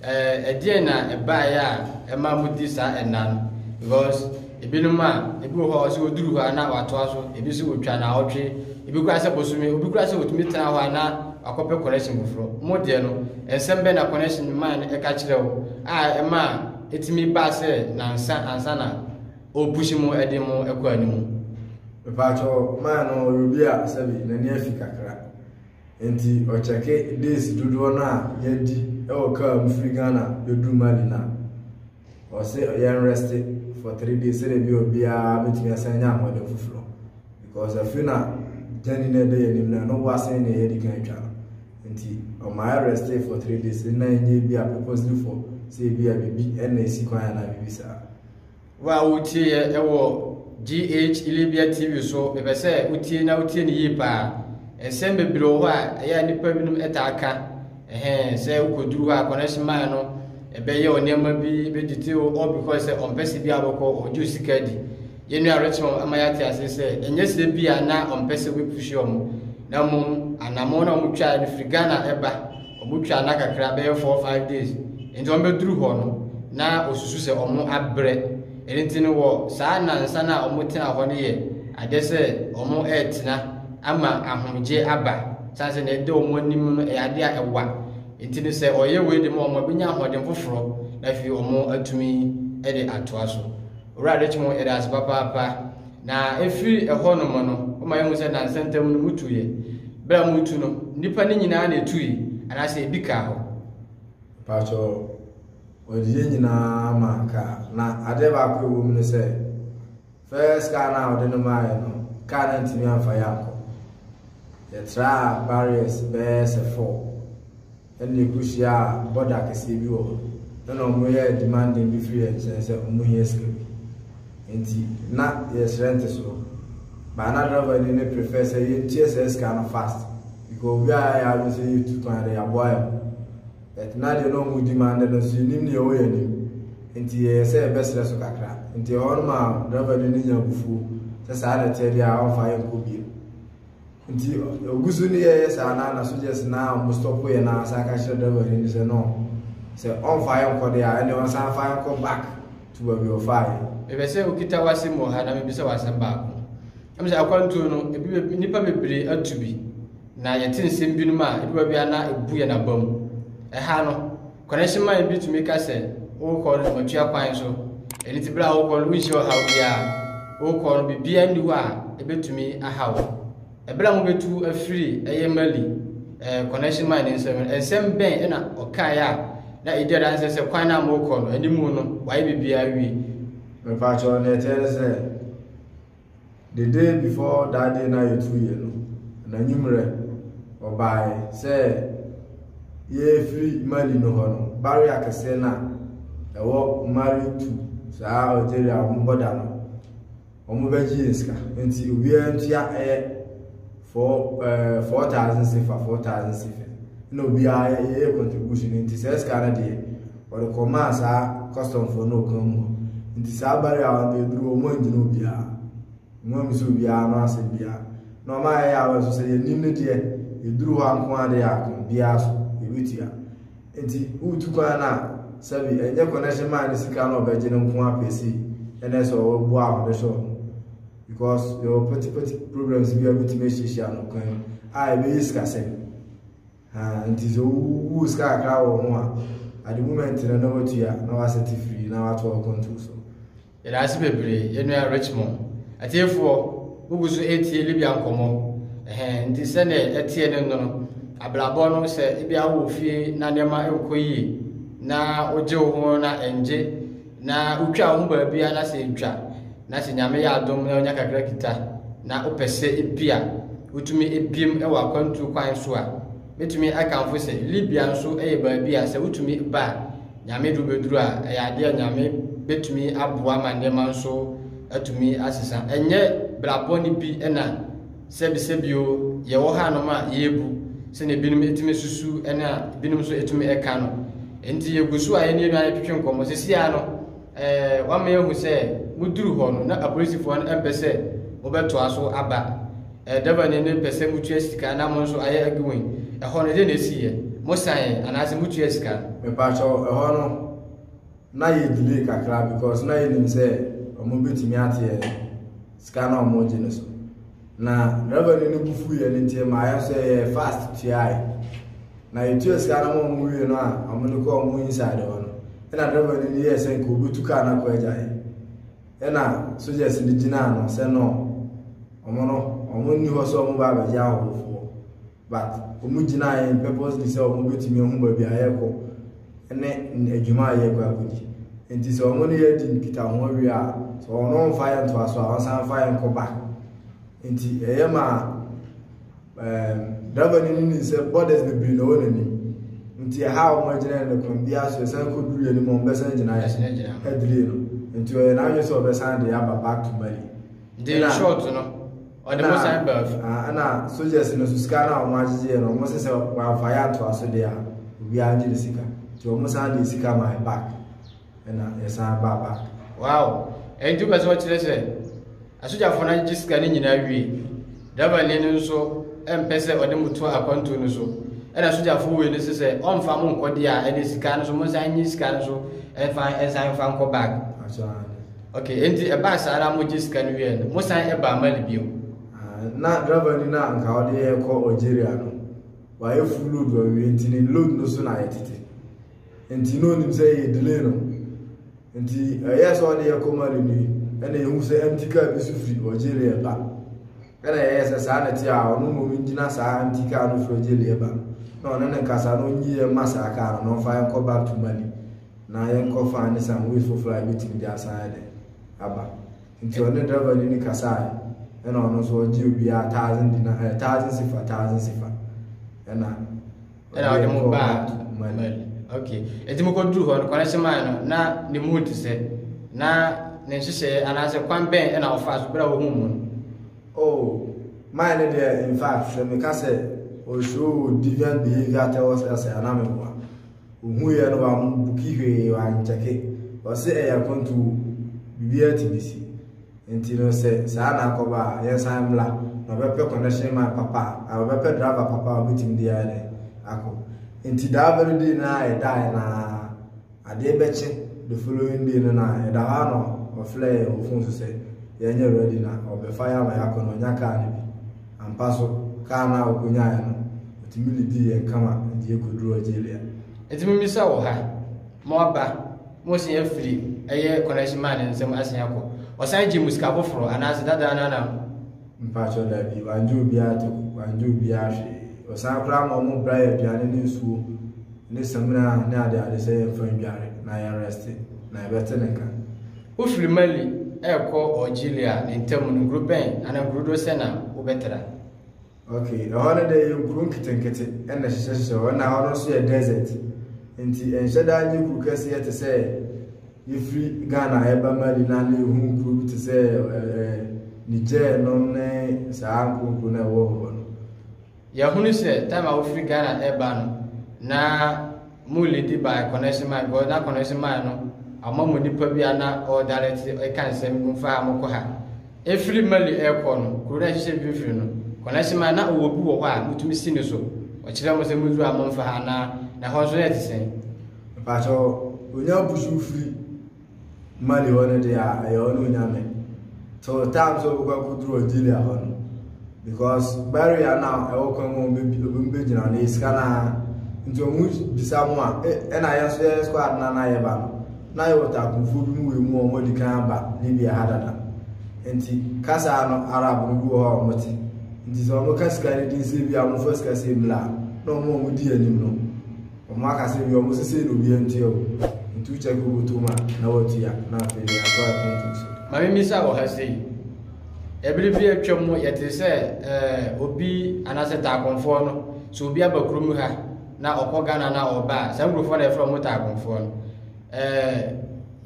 ɛɛ, ɛdeɛn na ɛbaeɛ a ɛma modi saa ɛnna no? Because ebinom a, ebi wɔ hɔ a, sɛ wɔduru hɔ a na wɔatoa so, ebi nso wɔtwa naawɔtwe, ebi koraa sɛ bosome, obi koraa sɛ ɔtumi tena hɔ a na wakɔpɛ connection foforɔ. Mo deɛ no, nsɛm bɛn na connection man no ka kyerɛ wo a ɛma ɛtumi baa sɛ nansa ansa na O push mo ɛde mo ɛkɔ animu. Mepatwɔ man no ɔyɛ obi a sɛbi n'ani afi kakra nti ɔkyɛke days dodoɔ no a yɛadi ɛwɔ kaa mu firi Ghana bɛduru Mali no a ɔse yɛn reste for three days sɛdeɛ bi obiara bɛtumi asan nya ahoɔden foforɔ because afiri na gyani no ɛbɛyɛ anim no ɛno wasen na yɛadi kan atwa no nti ɔma yɛ reste for three days na ɛnyɛ bi a purposely for sɛ bi a bibi ɛna ɛsi kwan anaa bibi saa Wo a woretie yɛ ɛwɔ GH Ilebia TV so, mepɛ sɛ wotie na wotie no yie paa. Nsɛm bebree wɔ hɔ a ɛyɛ a nnipa binom taa ka. Ɛhɛn, sɛ wokɔduru hɔ a, connection man no ɛbɛyɛ wo nneɛma bi, bɛdite wo, all because sɛ ɔmpɛ sɛ biara bɛkɔ, ɔgye wo sika di. Yɛn nua Richmond ama yɛate ase sɛ, ɛnyɛ sɛ bi a na ɔmpɛ sɛ wobɛpushi wɔn, na mmom anamɔn a wɔtwae no firi Ghana ɛba. Ɔmo twaa nna kakra, bɛyɛ four five days, nti ɔmo bɛduru hɔ no na ɔsusu sɛ ɔmo abrɛ, ɛno nti no wɔ saa nnansa no a ɔmo tenaa hɔ no yɛ adeɛ sɛ ɔmo ɛɛtena ama ahomgyeɛ aba, sane sɛ nea ɛda ɔmo anim no ɛyɛ adeɛ a ɛwa, nti no sɛ ɔyɛ wei de ma ɔmo a, bɛnya ahoɔden foforɔ na afei ɔmo atumi de atoa so. Awurade kye mo yɛda ase papaapa. Na ɛfiri ɛhɔ nom no, woma yɛhu sɛ nansa ntam no motuiɛ. Berɛ a motu no, nnipa no nyinaa na ɛtui anaasɛ ebi kaa hɔ? Mpakyɛ wɔde yɛn nyinaa ma kaa. Na adeɛ baako ɛwɔ mu ne sɛ, first car no a wɔde no maaeɛ no, car no antumi amfa yɛn ankɔ. Yɛtraa barriers bɛyɛ sɛ four. ɛna ɛkɔhyiaa bɔda kɛseɛ bi wɔ hɔ ɛna ɔmo yɛɛ demanding bi firi yɛn nkyɛn sɛ ɔmo hia sika bi nti na yɛsrɛ ntesoɔ but na driver ni no prefer sɛ yɛntua saa sika no fast because obi a yɛayɛ adwene sɛ yɛtu kwan de yɛaboa yɛn ho but na deɛ na ɔmo demanding no nso yɛnim deɛ ɛwɔ yɛn anim nti yɛyɛ sɛ yɛbɛsrɛ so kakra nti ɛhɔ no ma driver ni no nya abufuo sɛ saa na ɛteɛ deɛ a ɔmfa yɛnkɔ bio Nti ogu so ne yɛyɛ saa na na sogyɛs na wɔn stɔpo yɛ na asan ka kyerɛ dɛbɔ ni sɛ no sɛ ɔnfa yɛn kɔ de a ɛnna wɔn san fa yɛn kɔ back to baabi ɔfa yɛ. Mepɛ sɛ okita w'asɛm wɔ ha na mebisa w'asɛm baako. Ɛmu sɛ akwantuo no ebi nnipa bebree atu bi na yɛte nsɛm binom a ebi wɔ bi a na ebu yɛn abam. Ɛha no Kwaresima bi tumi ka sɛ, Worekɔ no, matua kwan so. Ɛno nti, bere a worekɔ no, worenhyia ɔhaw biara. Worekɔ no, biribiara nni hɔ a ebetumi ahaw wo. Bere a mubetu afiri ɛyɛ Mali eh, Kwaresima ne nsam no, nsɛm bɛn na ɔkae a na edi adanse sɛ kwan no a morekɔ no anim no, wayɛ biribiara awie? Me paa kyɛw, nea ɛteɛ ne sɛ, The day before that day na yɛtu yɛ no, n'anwummerɛ, ɔbaeɛ sɛ yɛrefiri Mali no hɔ no, barrier kɛseɛ no a ɛwɔ Mali to saa Algeria wɔn bɔda no, wɔbɛgye yɛn sika. Nti obiara ntua ɛyɛ. four ɛɛ eh, four thousand sefa four thousand sefa na obiara yɛyɛ contribution nti saa sika no deɛ wɔde kɔmaa saa customfoɔ no ɔkwan mu hɔ nti saa bari a wɔn aduru wɔn angyina obiara wɔn amu sɛ obiara no asɛm biara na wɔn a yɛyɛ awɔ nso sɛ yɛn nim no deɛ yɛduru hɔ anko adeɛ ako biara so yɛbɛtua nti wotu kwan no a sɛbi ɛnyɛ connection man no sika no ɔbɛgye no nko apɛsi ɛnɛ sɛ ɔwɔ boa ahodoɔ hyɛ wɔn Because yɛwɔ petty petty problems bi a wobɛtumi ahyiahyia no kwan a ɛbɛyɛ sikasɛm ah, nti sɛ wowu sika kakra wɔ ho a at the moment no na watua na wasɛte firi na wato akɔnto so yɛda ase bebree yɛnua richmond atiefoɔ wogu so ɛtie libya nkɔmmɔ ɛhɛ nti sɛdeɛ ɛteɛ no no abrabɔ no sɛ ebi awɔ fie na nneɛma nkɔ yie na wogye wo ho na ɛngye Na wotwa wo ho baabi a na sɛ ntwa na sɛ nyame yɛ adom na wonya kakra kita na wopɛ sɛ ebi a wotumi ebiem wɔ akwantuo kwan so a mɛtumi akanfo sɛ Libya nso yɛ baabi a sɛ wotumi ba a nyame duru bɛduru a ɛyɛ adeɛ a nyame bɛtumi aboa ma nneɛma nso atumi asesa ɛnyɛ brabɔ ne bi na Sɛbisɛbi o, yɛwɔ hanom a yebu sɛnea ebinom tumi susu ne a ebinom nso tumi ka no. Enti yegu so a yɛne yɛn nuanom twetwe nkɔmmɔ. Sisi ara no, ɛɛ wama yɛahu sɛ moduru hɔ no, na apolisifo no mpɛ sɛ mobɛtoa so aba. Ɛɛ Devani no pɛ sɛ mutua sika na mo nso ayɛ aduwen. Ɛhɔ no, dɛn na esiiɛ? Mosan ɛ, anaasɛ mutuaa sika no? Mepa kyɛw, ɛhɔ no. na yɛ delay kakra because na yɛnim sɛ ɔmo bɛtumi ate yɛn sika na ɔmo gye no so na revenue no bu fu yɛn nti ma yɛ sɛ yɛ fast tuae na yɛtua sika no ma ɔmo wie no a ɔmo de kɔ ɔmo inside hɔ no ɛna revenue no yɛ sɛ nka obetu kaa no akɔ agyae ɛna sogyas no gyina ano sɛ no ɔmo no ɔmo nni hɔ sɛ ɔmo ba abɛgye ahɔhofoɔ but wɔn gyinaeɛ no purposely sɛ wɔn bɛtumi ahu baabi a yɛrekɔ ne adwuma a yɛrekɔ akɔdi nti sɛ wɔn ne yɛadi nkita ho awie a sɛ wɔn no mfa yɛn ntoa so a wɔn san fa yɛn kɔ ba nti ɛyɛ ma ɛɛm driver no nim sɛ borders bebree na ɛwɔ n'anim nti ɛha a wɔn agyina no kwan bi aso ɛsan kɔ duru yɛn anim wɔn bɛsan gyina yɛn ɛdiri no nti ɔyɛ n'adwene sɛ ɔbɛsan de aba back to Mali. nti in short no ɔde mo san baa fi. ɛna soldiers no so sika no a wɔn agyegyeɛ no wɔn sɛ sɛ wɔamfa yɛ atoa so deɛ a obiara ngye ne sika nti wɔn san de sika ma yɛ back ɛna yɛsan baa back. wow ɛnti wopɛ sɛ ɔkyerɛ sɛ asogyafoɔ no agyegye sika no nyinaa wie dabani no nso ɛmpɛ sɛ ɔde mo to akwantuo no so ɛna asogyafoɔ wei no sɛ sɛ ɔmfa mo nkɔdeɛ a ɛne sika no so mo nsan nye sika no so ɛnfa ɛnsan mfa nkɔ back. Ok, enti ɛbaa saa na mogye sika no wieɛ no, mosan baa Mali bio? Ah, na driver ni no a nka ɔde yɛn kɔ Algeria no, wayɛ full load wɔ awie nti ne load no so na ayɛ tete. Nti na onim sɛ yɛ delay no. Nti ɛyɛ sɛ ɔde yɛ kɔ Mali ni, ɛna yɛhu sɛ empty car bi so firi Algeria ba. Ɛna yɛyɛ sɛ saa na ɛte a ɔno mmom ngyina saa empty car no firi Algeria ba. Na ɔne ne nkasa no nyi yɛn mma saa car no na ɔmfa yɛn kɔ back to Mali. na yɛnkɔfa ne some ways foforɔ a yɛbɛtumi de asan ayɛ dɛn aba nti ɔne driver no ni kasae ɛna ɔno nso ɔgye obiara thousand dina ɛɛ thousand sifa thousand sifa ɛna ɛna ɔde mo baa mali ok ɛti mo kɔduru hɔ no kwane se maa no na ne mu te sɛ na ne nhyehyɛeɛ anaasɛ kwan bɛn ɛna ɔfa so berɛ a ɔhu mu no oh maa no deɛ in fact sɛ meka sɛ ɔshow deviant behavior tɛwɔ sɛ asɛ anaa meboa Ohuiɛ no wambuki hwee wankyɛke ɔse ɛyɛ akwantuo biribiara tumi si nti no sɛ saa na akɔba a yɛnsan mmra na ɔbɛpɛ connection man papa a ɔbɛpɛ driver papa a ɔbɛtumi de ayɛ dɛ akɔ nti that very day no a yɛdaeɛ no a adeɛ bɛkye the following day no na yɛda hɔ a na ɔfrɛ yɛn wɔ phone so sɛ yɛnyɛ ready na ɔbɛfa yɛ ama yɛakɔ na ɔnya car no bi Ampa so, kar no a wokonyae no, otumi de dii yɛn kama de yɛn koduruu Algeria. Enti mimmisa wɔ ha, mo aba, moresan afiri ɛyɛ connection man no nsam asan akɔ? Ɔsan gyee mo sika foforo, anaasɛ dada no ara? Mpakyɛw, dabi, wangye obiara tow, wangye obiara hwee. Ɔsan koraa ma wɔbraa yɛn aduane ne nsuo ne samina ne adeade sɛ yɛmfa ndware, na yɛn rɛste, na yɛbɛte ne nka. Wofiri Mali rekɔ Algeria ntam no, nkuro bɛn anaa nkuro dodoɔ sɛn na wobɛtra? Ok, ɛhɔ no deɛ ɛyɛ nkuro nketenkete na ɛhyehyɛhyehyɛ hɔ, na hɔ no nso yɛ desert. Nti ɛnhyɛ da nyɛ kuro kɛseɛ te sɛ yɛfiri Ghana yɛba Mali na na yɛhu nkuro bi te sɛ ɛɛ Niger nom ne saa nkuro nkuro no a ɛwɔ hɔ no. Yɛahunu sɛ time a wofiri Ghana ɛreba no na mo lady by connection man because na connection man no ama mo nipa bi a na ɔɔdarɛte ɛka nsɛm bi mfa ha mo kɔ ha. Ɛfiri Mali ɛrekɔ no, kuro no ɛhyehyɛ mfimfini no, connection man na ɔwɔ bi wɔ hɔ a motumi si ne so. Ɔkyerɛ mo sɛ moduru a momfa ha anaa na ɛhɔ nso na ɛte sɛn. Mpakyɛw, onya busu firi. Ma deɛ ɔne deɛ a ɛyɛ ɔne onyame to time sɛ ɔbɛkɔ akɔduru Algeria hɔ no because barrier no a ɛwɔ kwan mu ɔbɛmu bɛgyina no yɛ sika no ara nti ɔmu bisa mu a ɛna yɛ nso yɛ squad no na yɛba no na yɛwɔ takumfoɔ bi mu wɔ mu ɔmo adi kan aba Libya ha dada nti kasa no Arab no bi wɔ hɔ a ɔmo te nti sɛ ɔmo ka sika no din sɛ bi a ɔmo fa sika sɛ mmla na ɔmo ɔmo di anim no Ɔmo aka sɛ wia ɔmo sesei na obia ntua o ntu check wobotum a na watua na afei deɛ yɛatɔ adwent nso. Mame misa wɔ ha sei. Ɛbere bi atwam no yɛtee sɛ ɛɛ obi anaasɛ taakonfoɔ no sɛ obi aba kurom ha na ɔkɔ Ghana na ɔba a saa nkurɔfoɔ na yɛfrɛ wɔn taakonfoɔ no ɛɛ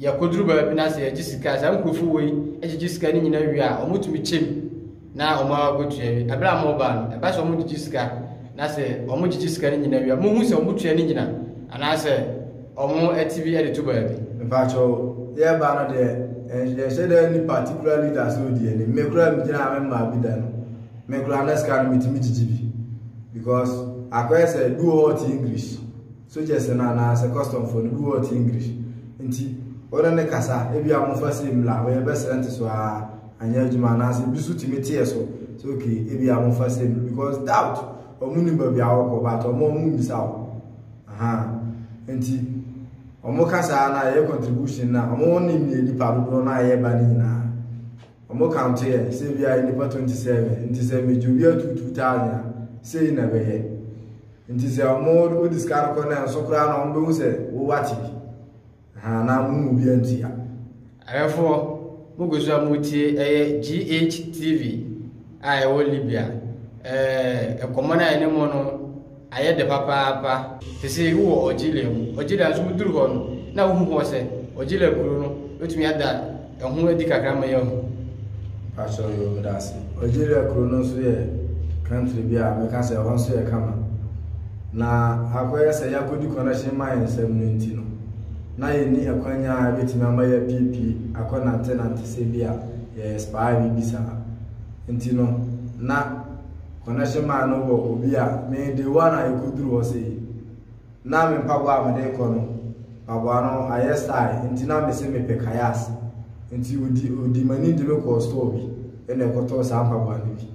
yɛkɔduru baabi na sɛ yɛgye sika saa nkurɔfoɔ wei gyegye sika no nyinaa wie a wɔtumi kyɛm na wɔn ara kɔtua wie ɛberɛ a wɔreba no ɛba sɛ wɔn gyegye sika na sɛ wɔn gyegye sika no nyina wie mohu sɛ wɔn tua no nyina anaasɛ wɔn ɛte bi ɛde to baabi. mpakyɛw yɛ ba no deɛ ɛnhyɛ dɛ ni particular leader sɛ odi anim me kura mi gyina me mmaa bi da no me kura ne sika no mi ti mi gyegye bi because akɔyɛ sɛ bi wɔ hɔ ɔte english. Sogyɛs no anaa sɛ kɔstɔmfoɔ no, bi wɔ hɔ a ɔte English nti wo ne no kasa a, ebia momfa sei mmra, wei ɛbɛsrɛ ntesoɔ ara, anyɛ adwuma anaasɛ bi nso tumi teɛ so sɛ okay ebia momfa sei mmra because doubt wɔn nnim baabi a wɔrekɔ but wɔn wɔn mmisa wo ahaa nti wɔn kasa no a ɛyɛ contribution no a wɔn wɔn nim yɛ nipa dodoɔ no a yɛreba no nyinaa. Wɔn count yɛ sɛ ebi ayɛ nipa 27 nti sɛ megye obi ato 2000 a sei na ɛbɛyɛ nti sɛ wɔn wodi sika no kɔ na nso koraa na wɔn bɛhu sɛ wowate bi ha na mo mu bi anti a. Awɛfoɔ mogu so a motie ɛyɛ GH TV a ɛwɔ Libya ɛɛ nkɔmmɔ no a ɛne mo no ayɛ dɛ papaapa te sɛ eyi wɔ Ojila mu. Ojila nso wodur hɔ no na wohu hɔ sɛ Ojila kuro no bɛtumi ada ɛho adi kakra ma yɛahu. Pakyɛw yoo meda ase. Ojila kuro no nso yɛ country bi a mɛka sɛ ɛhɔ nso yɛ kama. Na akɔyɛ sɛ yɛakɔdi connection mine nsɛm no nti no na yɛnni ɛkwanya a ɛbɛtumi ama yɛapiepie akɔ nantenante sɛ bi a yɛyɛ spy bi bi saa. Nti no na. Connection man no wɔ obi a me day one a yɛkɔduru hɔ sei na me mpaboa a mede kɔ no mpaboa no ayɛ style nti na mese mepɛ kayas nti odi odi m'ani de me kɔɔ store bi ɛna ɛkɔtɔɔ saa mpaboa no bi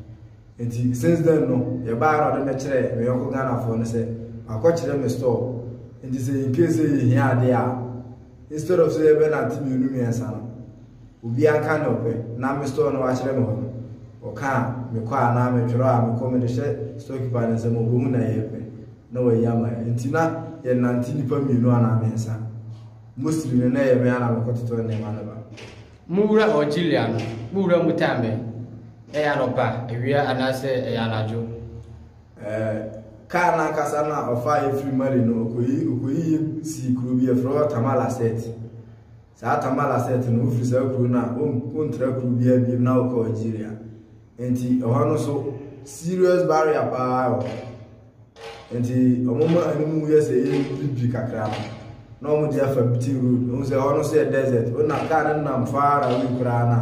nti since then no yɛbaa na ɔde me kyerɛ me yɔnko Ghanafoɔ no sɛ akɔkyerɛ me store nti sɛ in case sɛ yɛhia adeɛ a instead of sɛ yɛbɛnante mmienu mmiɛnsa no Obi aka nea ɔpɛ na me store no wakyerɛ me hɔ no, ɔka a, mekɔ a anaa metwerɛ a, mekɔ, mede hyɛ storekeeper no nsam, ɔbɔ mu na yɛpɛ na wayi ama yɛn. Enti na yɛnante nnipa mmienu anaa mmiɛnsa. Mostly no, na ɛyɛ me ara na mekɔtotɔ nneɛma no ba. Mo wura Auxilia no, mo wura mu tan bɛn? Ɛyɛ anɔpa, awia anaasɛ ɛyɛ anadwo? Ɛɛ, kaa no ankasa no a ɔfaa yɛn firii Mali no, ɔkɔyii, ɔkɔyii yɛn sii kuro bi a yɛfrɛ hɔ Tamalacet. Saa Tamalasset no, wofiri saa kuro no a, wontra kuro biara biom na wokɔ Algeria. Nti ɛhɔ no so serious barrier paa wɔ hɔ. Nti wɔn ma ɛno mu yɛ sɛ ɛyɛ bibiri kakra no na wɔn de afa beating road. Wɔn sɛ ɛhɔ no so yɛ desert. Wɔnam kaa no nam far away koraa na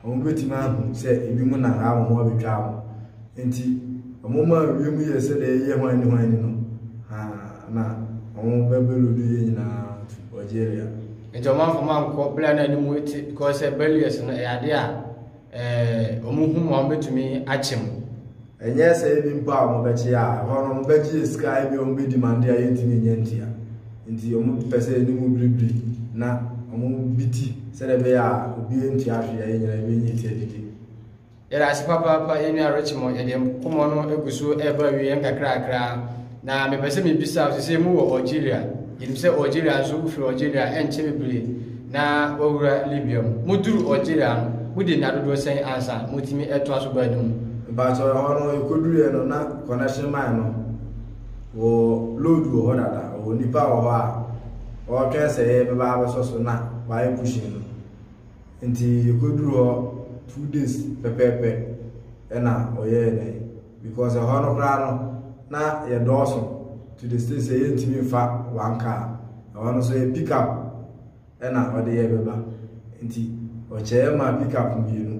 wɔn bɛtumi ahu sɛ ebi mu na ha wɔn abɛtwa wɔn. Enti wɔmaa wiem yɛɛ sɛdeɛ ɛyɛ hwan ne hwan ni no, haa, na wɔn bɛbɛlo no yɛ nyinaa tu Algeria. Nti wɔn amfa wɔn ankɔ bere a na anim te because sɛ barriers no ɛyɛ adeɛ a ɛɛ wɔn hu mu a wɔn bɛtumi akyɛ mu. Ɛnyɛ sɛ ebi mpo a wɔn bɛkye a ɛhɔ no wɔn bɛgye sika ebi a wɔn bɛ demande a yɛntumi nyɛ ntia nti wɔn pɛ sɛ anim biribiri na wɔn bi ti sɛdeɛ ɛbɛyɛ a obi ntua hwee a yɛn nyinaa yɛbɛnya ti adidi. Yɛda ase papaapa yɛn nua Richmond yɛde nkɔmmɔ no egu so ɛreba wie nkakrakra na mepɛ sɛ mebisa wo sɛ mu wɔ Algeria yɛnim sɛ Algeria nso wofiri Algeria ɛnkyɛ bebree na wawura Libya mu moduru Algeria no mode nna dodoɔ sɛn ansa motumi ɛtoa so baa no mu mpatsɔ ɛhɔ no yɛkɔduruiɛ no na connection man no wɔ load wɔ hɔ dada wɔ nipa wɔ hɔ a ɔretwɛn sɛ yɛbɛba abɛsɔ so na wayɛ pushing no Nti yɛkɔduru hɔ two days pɛpɛɛpɛ ɛna ɔyɛɛ dɛ because ɛhɔ no koraa no na yɛdɔɔso to the state sɛ yɛntumi mfa one car ɛhɔ no so yɛ pick up ɛna ɔde yɛ bɛba nti ɔkyɛɛ ma pick up mmienu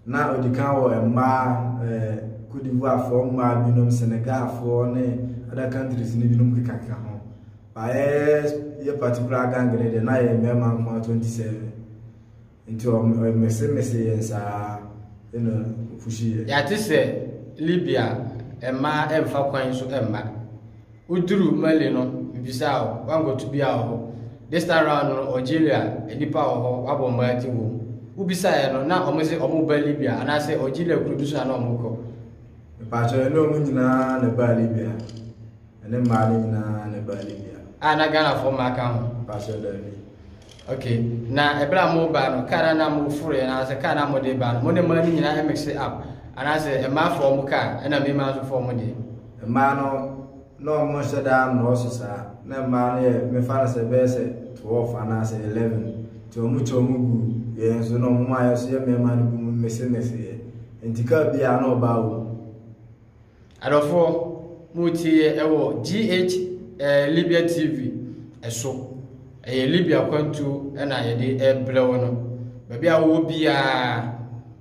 na ɔdi kan wɔ mmaa ɛɛ eh, Cote d'Ivoirefoɔ mmaa binom Senegalfoɔ ne other countries ne binom kekakeka ho Ba yɛ yɛ particular gang no deɛ na yɛ mmarima nko ara 27 nti ɔmesemese yɛn saa ɛna ɔpushi yɛ. Yɛate sɛ Libya mmaa ɛmfa kwan so mma. Woduru Mali no mebisaa wo woankɔto bia wɔ hɔ. This time round no Algeria nnipa wɔ hɔ wabɔ mmaa ti wom. Wobisaeɛ no na wɔn se wɔn ba Libya anaasɛ Algeria kuro bi so na na wɔn kɔ. Mpakyɛ ɛne wɔn nyinaa na ɛbaa Libya. Ɛne mmaa no nyinaa na ɛbaa Libya. A na Ghanafoɔ mmaa ka ho. Pakyɛ daabi. ok na ɛberɛ a moba no kaa na na moforo yɛ anaasɛ kaa na mode ba no mo ne mmaa no nyinaa ɛmekse up anaasɛ mmaa fɔɔ mo kaa ɛna mmarima nso fɔɔ mo deɛ mmaa no na ɔmo nhyɛ daa nnɔɔso saa na mmaa no yɛ mefa no sɛ bɛyɛ sɛ 12 anaasɛ 11 nti ɔmo kyɛ ɔmo gu yɛn nso na ɔmo ayɛ so yɛ mmarima no bi mu mese mese yɛ nti kaa biara na ɔbaa wɔ mu Adɔfoɔ, moretieɛ wɔ GH eh, Libya TV ɛso. Ɛyɛ Libya kwantuo ɛna yɛde ɛrebrɛ wo no. Baabi a wowɔ biara,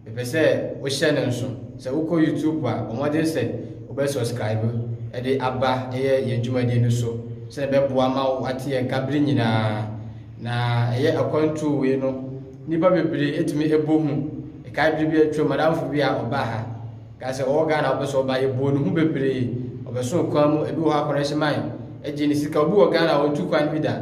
mepɛ sɛ wohyɛ no nso. Sɛ wokɔ YouTube a, bɔ mmɔden sɛ wobɛ subscribe ɛde aba ɛyɛ yɛn dwumadie no so. Sɛ ɛbɛboa ma wo ate yɛn nka bere nyinaa. Na ɛyɛ akwantuo wei no, nnipa bebree ɛtumi ɛbɔ hu. Ɛkae bere bi atwam, madamfo bi a ɔbaa ha. Guy sɛ ɔwɔ Ghana wopɛ sɛ ɔba yɛbɔɔ ne ho bebree ɔbɛsoo kwan mu ebi wɔ hɔ a kɔrɛnhye man ɛgye ne sika obi wɔ Ghana a ɔntu kwan bi da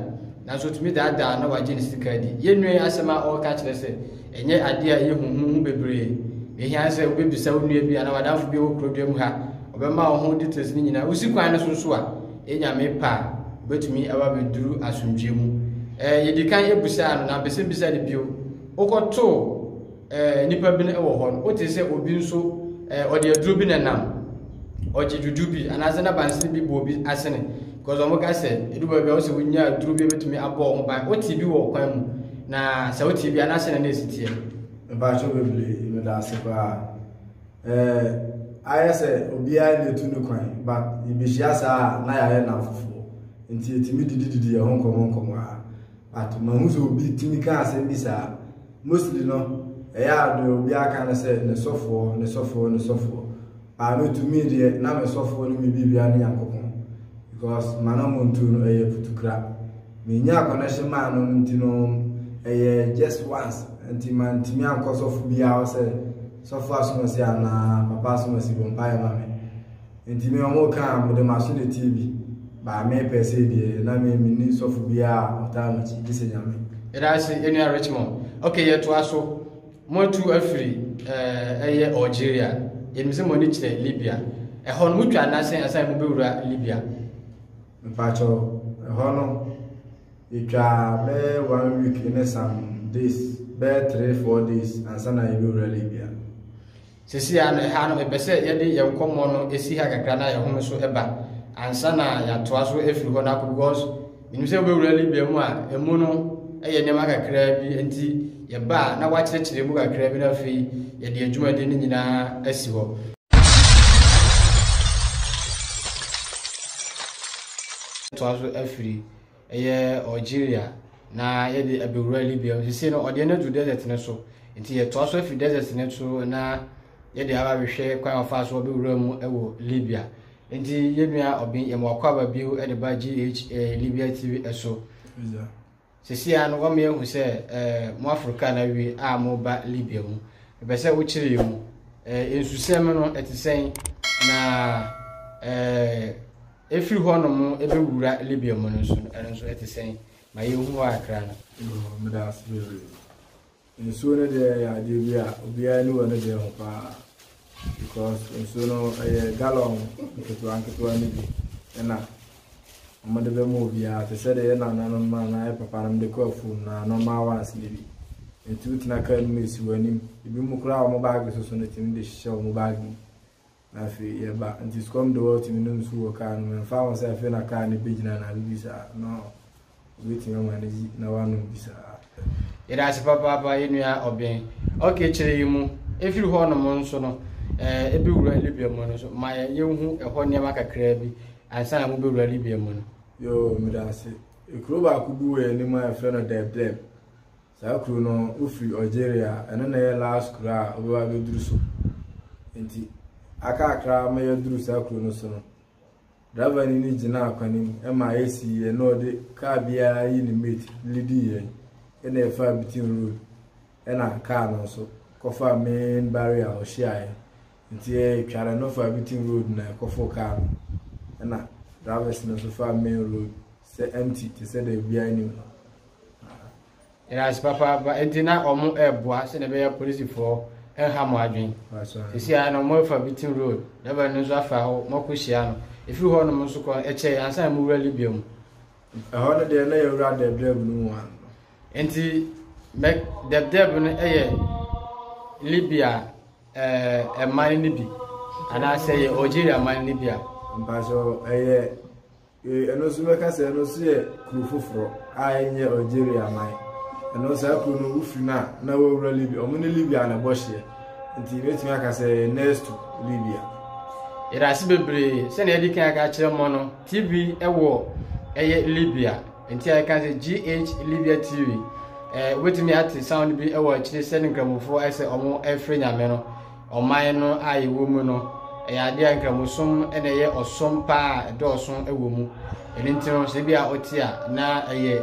nanso otumi daadaa na wagye ne sika adi yɛnua yi asɛm a ɔreka kyerɛ sɛ ɛnyɛ adeɛ a yɛhu ho ho bebree na ehia ne sɛ wobɛbisa wo nua bi anaa wadamfo bi a ɛwɔ kurodua mu ha ɔbɛma wo ho details no nyinaa wosi kwan no so nso a ɛnyame pa a wobɛtumi aba bɛduru asomdwoe mu ɛɛ yɛdi kan ebusaa no na mpɛ sɛ bisa no bio wokɔtoo Eh, nnipa bi no wɔ hɔ no, wote sɛ obi nso, eh, ɔde aduro bi na nam. Ɔgye dwudwo bi, anaasɛ na bansene bi bɔ obi asene. Because wɔn ka sɛ, edu baabi a wosɛ wonya aduro bi ebetumi abɔ wɔn ban. Wote bi wɔ kwan mu, na sɛ wote bi anaasɛ na na esi teɛ. Mpatsɔ bebree, meda ase paa. Eh, ayɛ sɛ obiara na etu ne kwan, but yebehyia saa a na yɛayɛ nnamfofoɔ. Nti yɛtumi didididi yɛn ho nkɔmmɔ nkɔmmɔ a. But mahu sɛ obi tumi kaa asɛm bi saa. Mostly no, ɛyɛ a deɛ obiara ka ne sɛ, ne sɔfoɔ, ne sɔfoɔ, ne sɔfoɔ. But me to me deɛ, na me sɔfoɔ ne me biribiara ne Nyankopɔn. Because ma na mo ntu no, ɛyɛ putukra. Me nyaa connection maa no nti no, ɛyɛ just once. Nti ma ntumi ankɔ sɔfo biara hɔ sɛ, sɔfo asomasi anaa papa asomasi bɔ mpaeɛ ma me. Enti me wɔn ka a, mede m'aso teteɛ bi baa me pɛ sei deɛ na me menni sɔfo biara a ɔtaa m'akyi gye sɛ Nyame. Yɛda ase ɛnua Richmond. Okay yɛtoa so. Mo atu afiri eh, ɛyɛ Algeria. Yɛnim sɛ mo ani kyerɛ Libya. Ɛhɔ no motwa anaasɛ ansa na mobɛwura Libya? Mpakyɛ ɛhɔ no yɛtwa bɛyɛ one week ne some days bɛyɛ three four days ansa na yɛbɛwura Libya. Seesei ara no, ɛha no, mepɛ sɛ yɛde yɛn nkɔmmɔ no si ha kakra na yɛhome so ba ansa na yɛatoa so afiri hɔ no akɔ because menim sɛ wobɛwura Libya mu a ɛmu no ɛyɛ nneɛma kakraa bi nti yɛba a na wakyerɛkyerɛ mu kakraa bi na afei yɛde adwumadi no nyinaa asi hɔ. toa so afiri ɛyɛ Algeria na yɛde abɛwura Libya mu. Sisi no ɔdeɛ no adu desert no so nti yɛtoa so afiri desert no so na yɛde aba bɛhwɛ kwan a ɔfaa so ɔbɛwura mu wɔ Libya nti yɛnua ɔben yɛma wakɔ aba bio de ba GHA Libya TV so sisi a no wɔma yɛhu sɛ eh, mo aforo kaa no awie a moba Libya mu ɛpɛ sɛ wokyerɛ yɛ mu eh, nsusɛm no ɛte sɛn na eh, Ɛfiri hɔnom bɛwura Libya mu no nso no, ɛno nso ɛte sɛn? Ma yɛnhu hɔ kakra no. Yoo, meda ase bebree. Nsuo no deɛ yɛ adeɛ bi a obiara ani wɔ ne deɛ ho paa because nsuo no ɛyɛ gallon nketewa nketewa no bi ɛna wɔde bɛma obiara te sɛ deɛ yɛ nananom anaa yɛ papa nom de kɔ afuom na normal ones no bi. Nti wotena kaa no mu ɛsi w'anim. Ebi mu koraa wɔn baage soso no tumi de hyehyɛ wɔn baage mu. na afei yɛba nti sukɔm de wɔtumi nom nsu wɔ kaa no mu ɛmfa ho sɛ afei na kaa no bɛgyina anaa biribi saa no wobɛtumi ama no yi na wanom bi saa yɛda ase papaapa yɛnua ɔbɛn ok kyerɛ yi mu ɛfiri hɔ nom nso no ɛbɛwura eh, libya mu no so ma yɛhu ɛhɔ nneɛma kakraa bi ansa na mobɛwura libya mu no yo meda ase ɛkuro baako bi wɔ yɛnim a ɛfrɛ no dɛblɛm Saa kuro no wofiri Algeria ɛno na ɛyɛ last kuro a wobɛba bɛduru so nti akakra ma yɛduru saa kuro no so no driver ni no gyina akwanim ɛma AC yɛ na ɔde kaa biara yi ne mate lidi yɛn ɛna ɛfa bitin road ɛna kaa no nso kɔfa main barrier a ɔhyiaeɛ nti ɛtware no fa bitin road na ɛkɔfo kaa no ɛna drivers no nso fa main road sɛ empty te sɛ da biara anim Yɛda ase papaapa. Enti na wɔn reboa sɛdeɛ ɛbɛyɛ apolisifoɔ nha mo adwene. Sisi a na wɔn afa Beating Road, Durban no nso afa hɔ, mo akɔ hyia no. Efiri hɔ nom nso kɔ ɛkyɛ yɛn ansa na mo wura Libya mu. Ɛhɔ no deɛ na yɛn wura dɛbdɛb no mu ano. Enti mɛ dɛbdɛb no yɛ Libya ɛɛ ɛman no bi anaasɛ yɛ Algeria man no bi a. Mpatsɔ ɛyɛ Ee, ɛno nso mɛka sɛ ɛno nso yɛ kuro foforɔ a ɛnyɛ Algeria man. Ɛno saa kuro no wofiri no a na wɔwura Libya. Wɔn ne Libya na ɛbɔ hyeɛ. Nti mɛtumi aka sɛ next to Libya. Yɛda ase bebree sɛnea yɛde kan aka akyerɛ mmɔ no TV ɛwɔ ɛyɛ Libya nti a yɛka sɛ GH Libya TV ɛɛ wobɛtumi ate sound bi ɛwɔ akyire sɛ ne nkramofoɔ ɛsɛ wɔn ɛfrɛ nyame no. Ɔman no a yɛwɔ mu no, ɛyɛ adeɛ a Nkramosom na ɛyɛ ɔsom pa a ɛdɔɔso wɔ mu. Ɛno nti no, sɛ ebi a wote a na ɛyɛ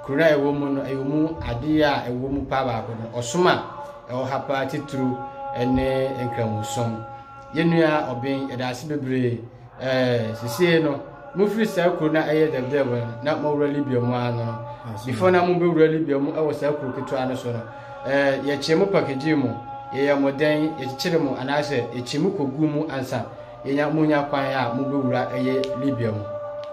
kuro no a ɛwɔ mu no, ɛyɛ mu adeɛ a ɛwɔ mu paa baako no, ɔsom a ɛwɔ ha paa titiriw ne Nkramosom. Yɛn nua Ɔben, yɛda ase bebree Ɛɛ, sesie no, mofiri saa kuro no a ɛyɛ dɛbdɛb no na mowura Libya mu ara no. Before na mobɛwura Libya mu wɔ saa kuro ketewa no so no, ɛɛ, yɛkyee mo pakagye mu, yɛyɛ mo dɛn, yɛkyekyere mo anaasɛ yɛkyi mo kɔgu mu ansa yɛnya monya kwan a mobɛwura ɛyɛ Libya mu.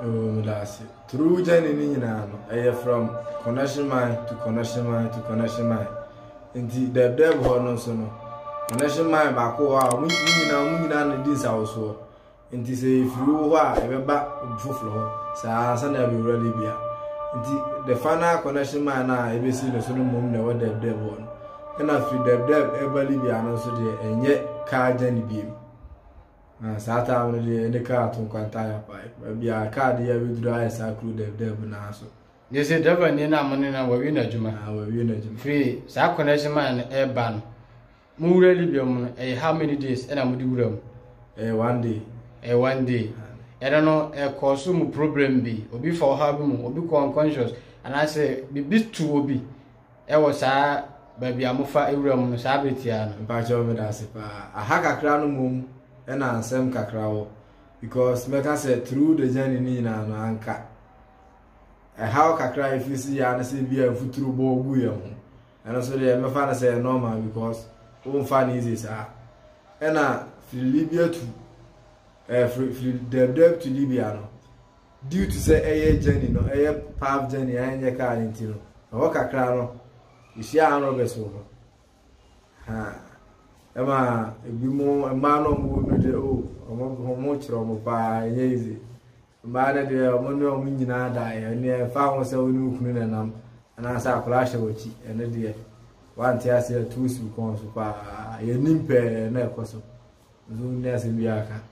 Oh, meda ase. Turu journey no nyinaa no, ɛyɛ from Kɔnɔhye Mine to Kɔnɔhye Mine to Kɔnɔhye Mine. Nti dɛɛbdɛɛb hɔ no nso no, connection man baako wɔ hɔ a wɔn nyinaa wɔn nyinaa na di nsawosoɔ. Nti sɛ yɛfiri wo hɔ a ɛbɛba obi foforɔ hɔ saa ansa na abɛwura de bia. Nti the final connection man a ɛbɛsi no so no mmom na ɛwɔ dɛɛbdɛɛb hɔ no. Ɛna firi dɛɛbdɛɛb ɛba Libya no nso deɛ ɛnyɛ kaa gya ne biem. Na saa time no deɛ ɛne kaa to nkwanta ayɛ paa. Baabi a kaa de yɛ abɛduru ayɛ saa kuro dɛɛbdɛɛb naa so. Gye sɛ driver ni na mo ne na wɔawie n'adwuma. Ah, wɔawie n'adwuma. Firi saa connection man no ɛreba no, mo wura Libya mu no, ɛyɛ how many days ɛna mo de wura mu? Ɛyɛ one day. Ɛyɛ one day. Ɛno no ɛkɔɔ so mu problem bi, obi fa ɔhaw bi mu, obi kɔ unconscious, anaasɛ biribi tu obi ɛwɔ saa baabi a mofa wura mu no saa bere tiaa no. Mpakyɛw meda ase paa. Aha kakra no mmom ɛna nsɛm kakra wɔ because mɛka sɛ through the journey ne nyinaa no anka ɛhaw kakra a ɛfiri si yɛ ne sɛ bi a mfuturo bɔ gu yɛn ho ɛno nso deɛ mɛfa no sɛ normal because womfa no easy saa ɛna firi libya to ɛɛ firi firi dɛbdɛb to libya no due to sɛ ɛyɛ journey no ɛyɛ path journey a ɛnyɛ kaa ne ti no ɛhɔ kakra no yɛhyia anrɔbɛs wɔ hɔ ha ɛma ebi mu mmaa no a wɔwɔ mu no deɛ o wɔn wɔn kyerɛ wɔn paa ɛnyɛ easy. Mmaa no deɛ, wɔn ne wɔn nyinaa daeɛ. Ɛnneɛ ɛmfa ho sɛ wo ne wo kunu na ɛnam anaasɛ akwadaa hyɛ w'akyi, ɛno deɛ wante ase atu sukuu so paa. Yɛnim pɛɛ na ɛkɔ so. Nso ne asɛm bi aka.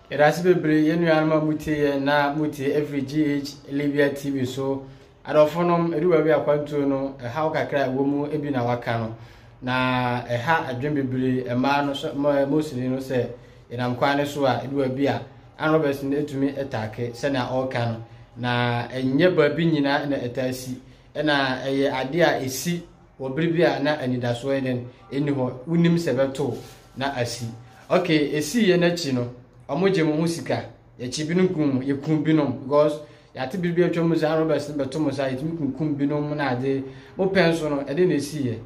Yɛda ase bebree yɛn nuanom a motie yɛn na motie ɛfiri GH Libya TV so. Adɔfonom, edu baabi a akwantuo no, ɛhaw kakra a ɛwɔ mu bi na waka no, na ɛha adwene bebree mmaa no so ma Mosini no sɛ yɛnam kwan no so a edu baabi a Ann Robertson etumi ɛtaake sɛnea ɔreka no, na ɛnyɛ baabi nyinaa na ɛtaa si, ɛna ɛyɛ adeɛ a esi wɔ bere bi a na anidasoɔ yɛ dɛn nni hɔ, wonim sɛ ɛbɛtow na asi. Okay, esiiɛ no akyi no, wɔgye mo ho sika. Yɛkye binom kum mu, yɛkum binom because yɛate bere bi atwa mu saa roberts no bɛto mo saa yɛtumi kunkum binom na ade mopɛ nso no ɛde na ɛsiiɛ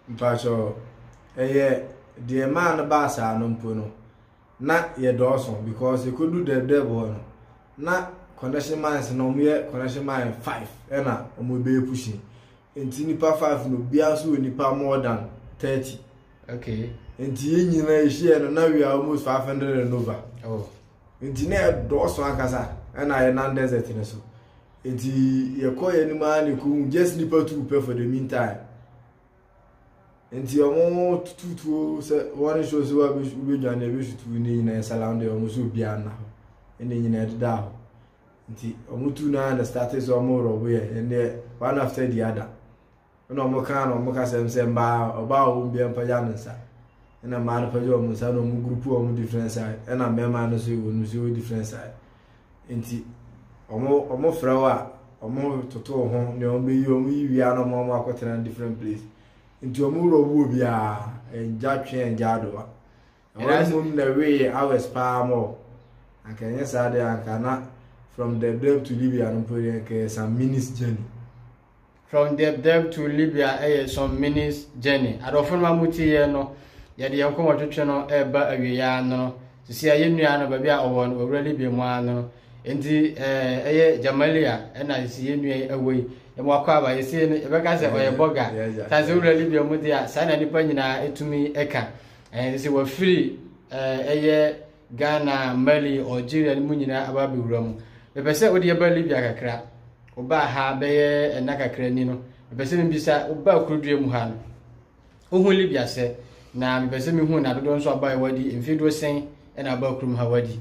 mpakyɛ ɛyɛ deɛ maa no baa saa no mpo no na yɛdɔɔso because yɛkɔdu dɛbdɛb hɔ no na connection mines na wɔyɛ connection mine five ɛna wɔbɛyɛ pushing Nti nipa five no obiara nso wɔ nipa more than thirty. Okay. Nti yɛn nyinaa yɛhyia no na we are almost five hundred and over. Oh. Nti na ɛdɔɔso ankasa ɛna yɛ nan desert no so. Nti yɛkɔ yɛn anim ara na ekohu just nipa two pɛ for the meantime. Nti wɔn tututuo sɛ wɔn nsuo sɛ wɔabɛdwane ɛbɛsutu ne nyinaa nsalam deɛ wɔn nso obiara nna hɔ. Ɛna nyinaa ɛdeda hɔ. nti wɔn tu naa na starte sɛ wɔn rɔbo yɛ ɛnneɛ one after the other ɛna wɔn kaa na wɔn kasɛm sɛ mbaa ɔbaa a wɔn bia mpagya ne nsa ɛna mmaa no pagya wɔn nsa na wɔn gurupu wɔn different side ɛna mmarima no so wɔn nso wɔ different side nti wɔn wɔn frɛ wɔ a wɔn toto ho nea wɔn bɛyi wɔn yi wia na wɔn akɔtena different place nti wɔn rɔbo biara ɛngya twɛn ɛngya adowa. Ɛhɔ mmom na we yɛ hours paa mɔ. Anka ɛnyɛ saa deɛ anka na from Deb Deb to Libya no mpo deɛ anka ɛyɛ some minutes journey. From Deb Deb to Libya ɛyɛ some minutes journey. Adɔfo no amu ti yɛ no yɛde yɛn kɔn wɔtwetwe no ɛreba awie yɛ anono. Sisi a yɛn nua no baabi a ɔwɔ no ɔwura Libya mu anono. Nti ɛyɛ Jamalia ɛna sisi yɛn nua yi ɛwɔ yi. Yɛn wakɔ aba yɛsi yɛn yɛbɛka sɛ ɔyɛ bɔga. Tansi ɔwura Libya mu deɛ saa na nipa nyinaa ɛtumi ɛka. Ɛɛ sɛ wafiri ɛɛ ɛyɛ Ghana, Mali, Algeria no mu nyinaa aba abɛwura mu. Mepɛ sɛ wode yɛba Libya kakra. Wobaa ha bɛyɛ ɛna kakra ni no. Mepɛ sɛ mebisa wobaa kurudua mu ha no. Wohu Libya sɛ na mepɛ sɛ mehu na dodoɔ nso aba wadi mfeɛ doɔ sɛn ɛna aba kurom ha wadi.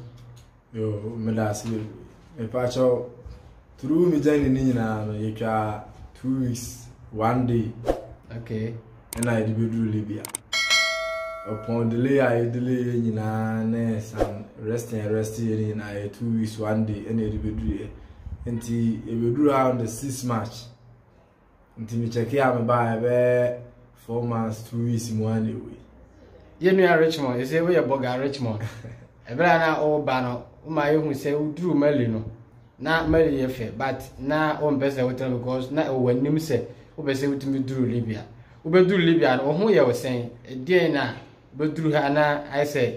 Yo, meda ase bebree. Mepakyɛw, through me journey ne nyinaa no, yɛtwa two weeks, one day. Okay. Ɛna yɛde bɛduru Libya. Upon delay a yɛ delay yɛ nyinaa ne some resting yɛ rest yɛ ne nyinaa yɛ two weeks, one day ɛna yɛde bɛduru yɛ. Nti yɛbɛduru around the six March. nti me kyɛke a mebaeɛ bɛyɛ four months two weeks mu a na ɛwei yɛ nua richmond ɛsɛ woyɛ bɔga richmond ɛberɛ a na woba no woma yɛhu sɛ woduru mali no na mali yɛ fɛ but na wompɛ sɛ wotena because na ɛwɔ anim sɛ wopɛ sɛ wotumi duru libya wobɛduru libya no wo ho yɛ wo sɛn ɛdeɛn na wobɛduru ha na ayɛ sɛ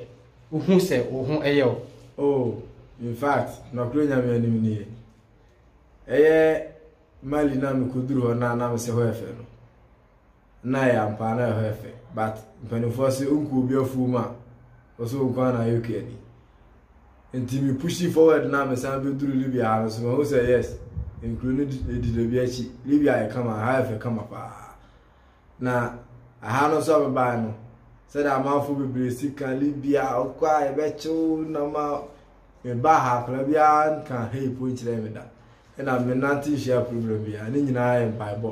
wohu sɛ wo ho ɛyɛ wo oh in fact nɔkorɛ nyame anim nie ɛyɛ Mali no a mekoduru hɔ no a na mese hɔ yɛ fɛ no na ɛyɛ ampa na ɛhɔ yɛ fɛ but mpanimfoɔ se onku obi afuo mu a ɔsɛ onku a na ayɛ kua ni nti me pushi forward na mesan bɛduru libya ha no so mahu sɛ yes nkuro no di dabi akyi libya yɛ kama ha yɛ fɛ kama paa Na aha no nso a mebae no, sɛdeɛ amanfoɔ bebree si ka Libya wokɔ a yɛbɛkye wo nam a mebaa ha akwadaa biara nka hei po nkyerɛ me da. Ɛna menante nhyia problem biara. Ne nyinaa yɛ mpaebɔ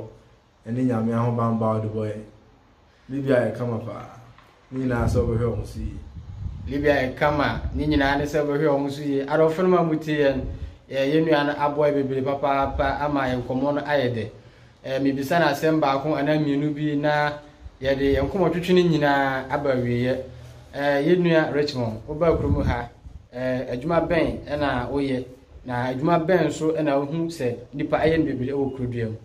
ne Nyame ahobanbɔ a ɔde bɔ yɛn. Libya yɛ kama paa. ne nyinaa sɛ wɔbɛhwɛ wɔn ho so yie. Biribi a yɛka ma ne nyinaa ne sɛ wɔbɛhwɛ wɔn ho so yie. Adɔfonom a motie yɛn, yɛn nua no aboa yɛn bebree papaapa ama yɛn nkɔmmɔ no ayɛ dɛ. Mebisa no asɛm baako anaa mmienu bi na yɛde yɛn nkɔmmɔtwetwe no nyinaa aba awieeɛ. Yɛn nua Richmond, wobaa kurom ha, adwuma bɛn na woyɛ, na adwuma bɛn nso na wohu sɛ nnipa yɛ no bebree wɔ kuroduam?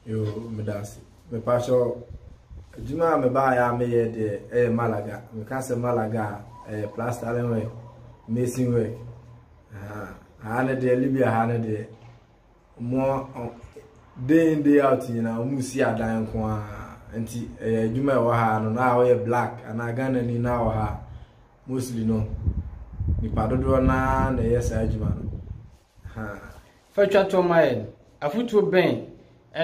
Yoo meda ase. Mepakyɛ adwuma a mebaeɛ a meyɛ deɛ ɛyɛ Malaga. Meka sɛ Malaga a ɛyɛ plastering work, mason work. Aha no deɛ Libya ha no deɛ mo day in day out nyinaa wɔn si adan nko ara nti ɛyɛ adwuma ɛwɔ ha no na wɔyɛ black anaa Ghana ni na wɔ ha mostly no nipa dodoɔ naa na ɛyɛ saa adwuma no. Ha. Fa twa toɔ ma yɛn. Afotuo bɛn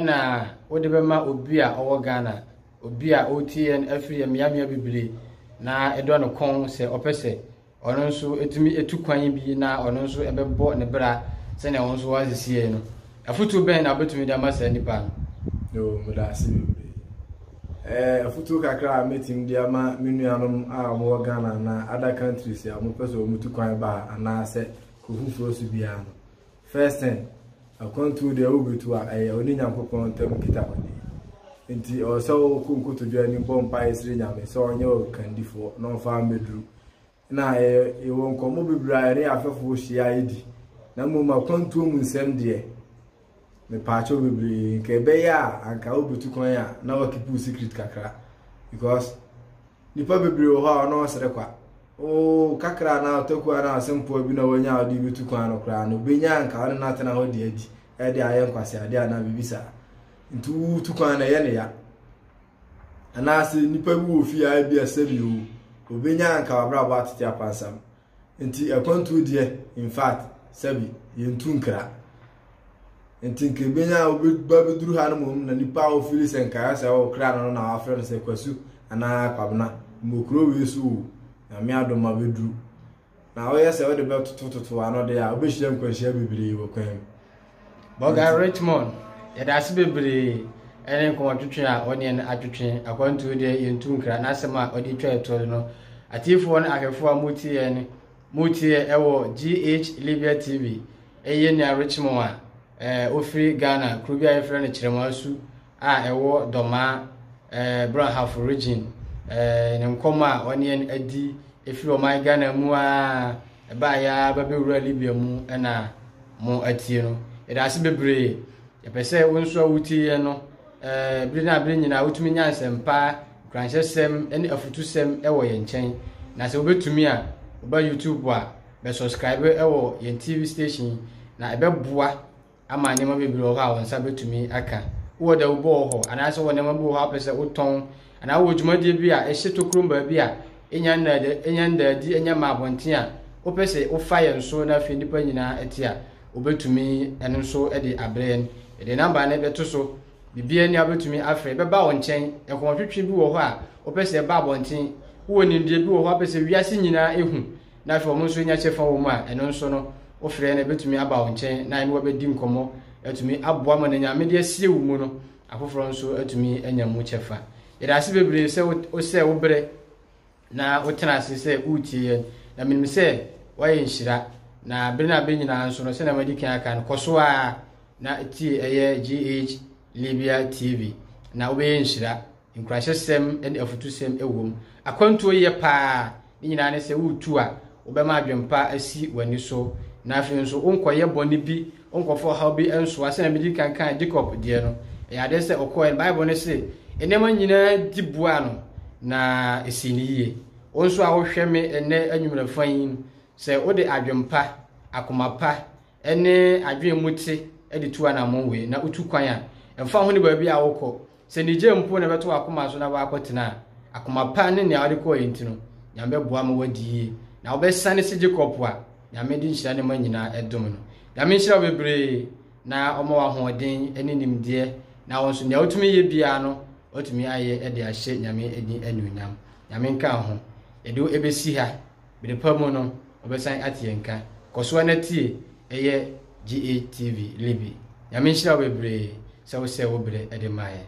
na wode bɛma obi a ɔwɔ Ghana, obi a ɔretie yɛn afiri mmeammea bebire na ɛdɔ no kɔn sɛ ɔpɛ sɛ ɔno nso tumi tu kwan bi na ɔno nso ɛbɛbɔ ne bra sɛnea wɔn nso wɔasisi yɛn no? Afotuo bɛn na wobɛtumi de ama saa nipa no? Yoo, meda ase bebree. Ɛɛ, afotuo kakra a mɛtumi de ama me nuanom a wɔwɔ Ghana anaa other countries a wɔpɛ sɛ wɔtu kwan ba ha anaasɛ Kɔ foforɔ so biara no, first thing, akwantuo deɛ wobetu a, ɛyɛ wo ne Nyankopɔn ntam nkitahodi. Enti ɛwɔ sɛ wo kɔ nkotodwe anim bɔ mpaeɛ srɛ Nyame sɛ ɔnyɛ wo kandifoɔ na ɔmfa wo mmɛduru. Na yɛwɔ nkɔmmɔ bebree a yɛne yɛn afɛfoɔ hyia di. Na mmom akwantuo mu nsɛm deɛ, mepaakyɛw bebree, nka ɛbɛyɛ a anka wobetu kwan a na woakeep wo secret kakra because. Nnipa bebree wɔ hɔ a ɔno ɔsrɛ kwa. Oo, kakra anaa ɔtaku anaa ɔsɛmpoa bi na wanya a ɔde betu kwan no koraa no, obenya a anka ɔne no atena hɔ de adi, ɛde ayɛ nkwaseade anaa biribi saa. Nti wotu kwan na ɛyɛ ne ya. Anaasɛ nnipa bi wɔ fie a ebi asɛm yi o, obenya a anka wabrabɔ atete apansam. Nti akwantuo deɛ in fact sɛbi yɛntu nkra. Nti nka ebenya a wobɛba bɛduru ha no mmom na nipa a wofili sɛ nkaeɛ sɛ ɔwɔ kra no na wafrɛ no sɛ kwasu anaa kwabena mmɔ kuro wei so o nyame adom ma bɛduru. Na woyɛ sɛ wode bɛtotototo ano deɛ a wobɛhyia nkwanhyia bebree wɔ kwan mu. Bɔga Richmond, yɛda ase bebree ɛne nkɔmɔtwetwe a ɔne yɛn atwetwe. Akwantuo deɛ yɛntu nkra n'asɛm a ɔde twa ɛtoɔ no. Atiifoɔ ne ahwɛfoɔ a motie yɛn motie ɛwɔ GH Libya TV ɛyɛ nua Richmond a ɛɛ ofiri Ghana kuro bi a yɛfrɛ no Kyerɛmasu a ɛwɔ Dɔmaa, ɛɛ, Brɔnhafo Region, ɛɛ, ne nkɔm a ɔne yɛn adi ɛfiri ɔman Ghana mu a ɛbaa yɛ ara bɛbɛwura Libya mu na mo atie no. Yɛda ase bebree. Yɛpɛ sɛ wo nso a wotie yɛn no, ɛɛ, bere na bere nyinaa wotumi nya nsɛmpa, nkuranhyɛsɛm ne afutusɛm wɔ yɛn nkyɛn. Na sɛ wobɛtumi a, woba YouTube a, bɛsubscribe wɔ yɛn TV station na ɛbɛboa ama nneɛma bebree wɔ hɔ a wo nsa bɛtumi aka. Wowɔ dawubɔ wɔ hɔ anaasɛ wowɔ nneɛma bi wɔ hɔ a wopɛ sɛ wotɔn anaa wowɔ dwumadie bi a ɛhyɛ tokurom baabi a ɛnya nnaadi, ɛnya ndaadi, ɛnya mma abɔnten a wopɛ sɛ wofa yɛn so na afei nnipa nyinaa te a, wobɛtumi ɛno nso de abrɛ yɛn. Yɛde namba no bɛto so. Biribiara ni a wobɛtumi afrɛ. Ɛbɛba wo nkyɛn. Nkɔmɔtwetwe bi wɔ hɔ a wopɛ sɛ ɛba abɔnten. Wowɔ nimdeɛ bi wɔ hɔ a wopɛ sɛ wiase nyinaa ɛhu. na afei wɔn nso nya kyɛfa wɔ mu a, ɛno nso no, wofrɛ no a, ebetumi aba wo nkyɛn na ɛne wo abedi nkɔmmɔ atumi aboa ma nea Nyame de asie wo mu no, afoforɔ nso atumi anya mu kyɛfa. Yɛda ase bebree sɛ wosɛ wo berɛ na wotena ase sɛ woretie yɛn, na menim sɛ woayɛ nhyira. Na bere no abɛ nyinaa nso no, sɛnea madi kan aka no, kɔ so ara na tie ɛyɛ GH Libya TV na wobɛyɛ nhyira. Nkuranhyɛsɛm ne afutusɛm wom. Akwantuo yɛ paa. Ne nyinaa ne sɛ woretu a, wobɛma adwempa asi w'ani so. Na afei nso, wonkɔyɛ bɔne bi, wonkɔfa ɔhaw bi nsoa. Sɛnea medi kan kaa Jacob deɛ no, ɛyɛ adeɛ sɛ ɔkɔeɛ no, Bible no se, Nneɛma nyinaa di boaa no, na ɛsii no yie. Wo nso a wohwɛ me ɛnnɛ anwummerɛ fann yi, sɛ wode adwempa, akoma pa, ne adwene mu te de tu anammɔn wei, na wotu kwan a, ɛmfa ho ne baabi a wokɔ. Sɛ anigye mpo na ɛbɛto w'akoma so na woakɔtena a, akoma pa ne nea wode kɔɔeɛ nti no, Nyame bɛboa ma woadi yie. Na wobɛsane se Jacob a Nyame de nhyira ne mma nyinaa dom no. Nyame nhyira wo bebree na ɔma wo ahoɔden ne nimdeɛ, na wo nso nea wotumi yɛ biara no, woatumi ayɛ de ahyɛ Nyame din anuonyam. Nyame nka wo ho. Yɛde wo bɛsi ha. Bere pa mu no, ɔbɛsan ate yɛn nka. Kɔ so ara na tie ɛyɛ GATV Libi. Nyame nhyira wo bebree sɛ wo sɛɛ wo berɛ de ma yɛn.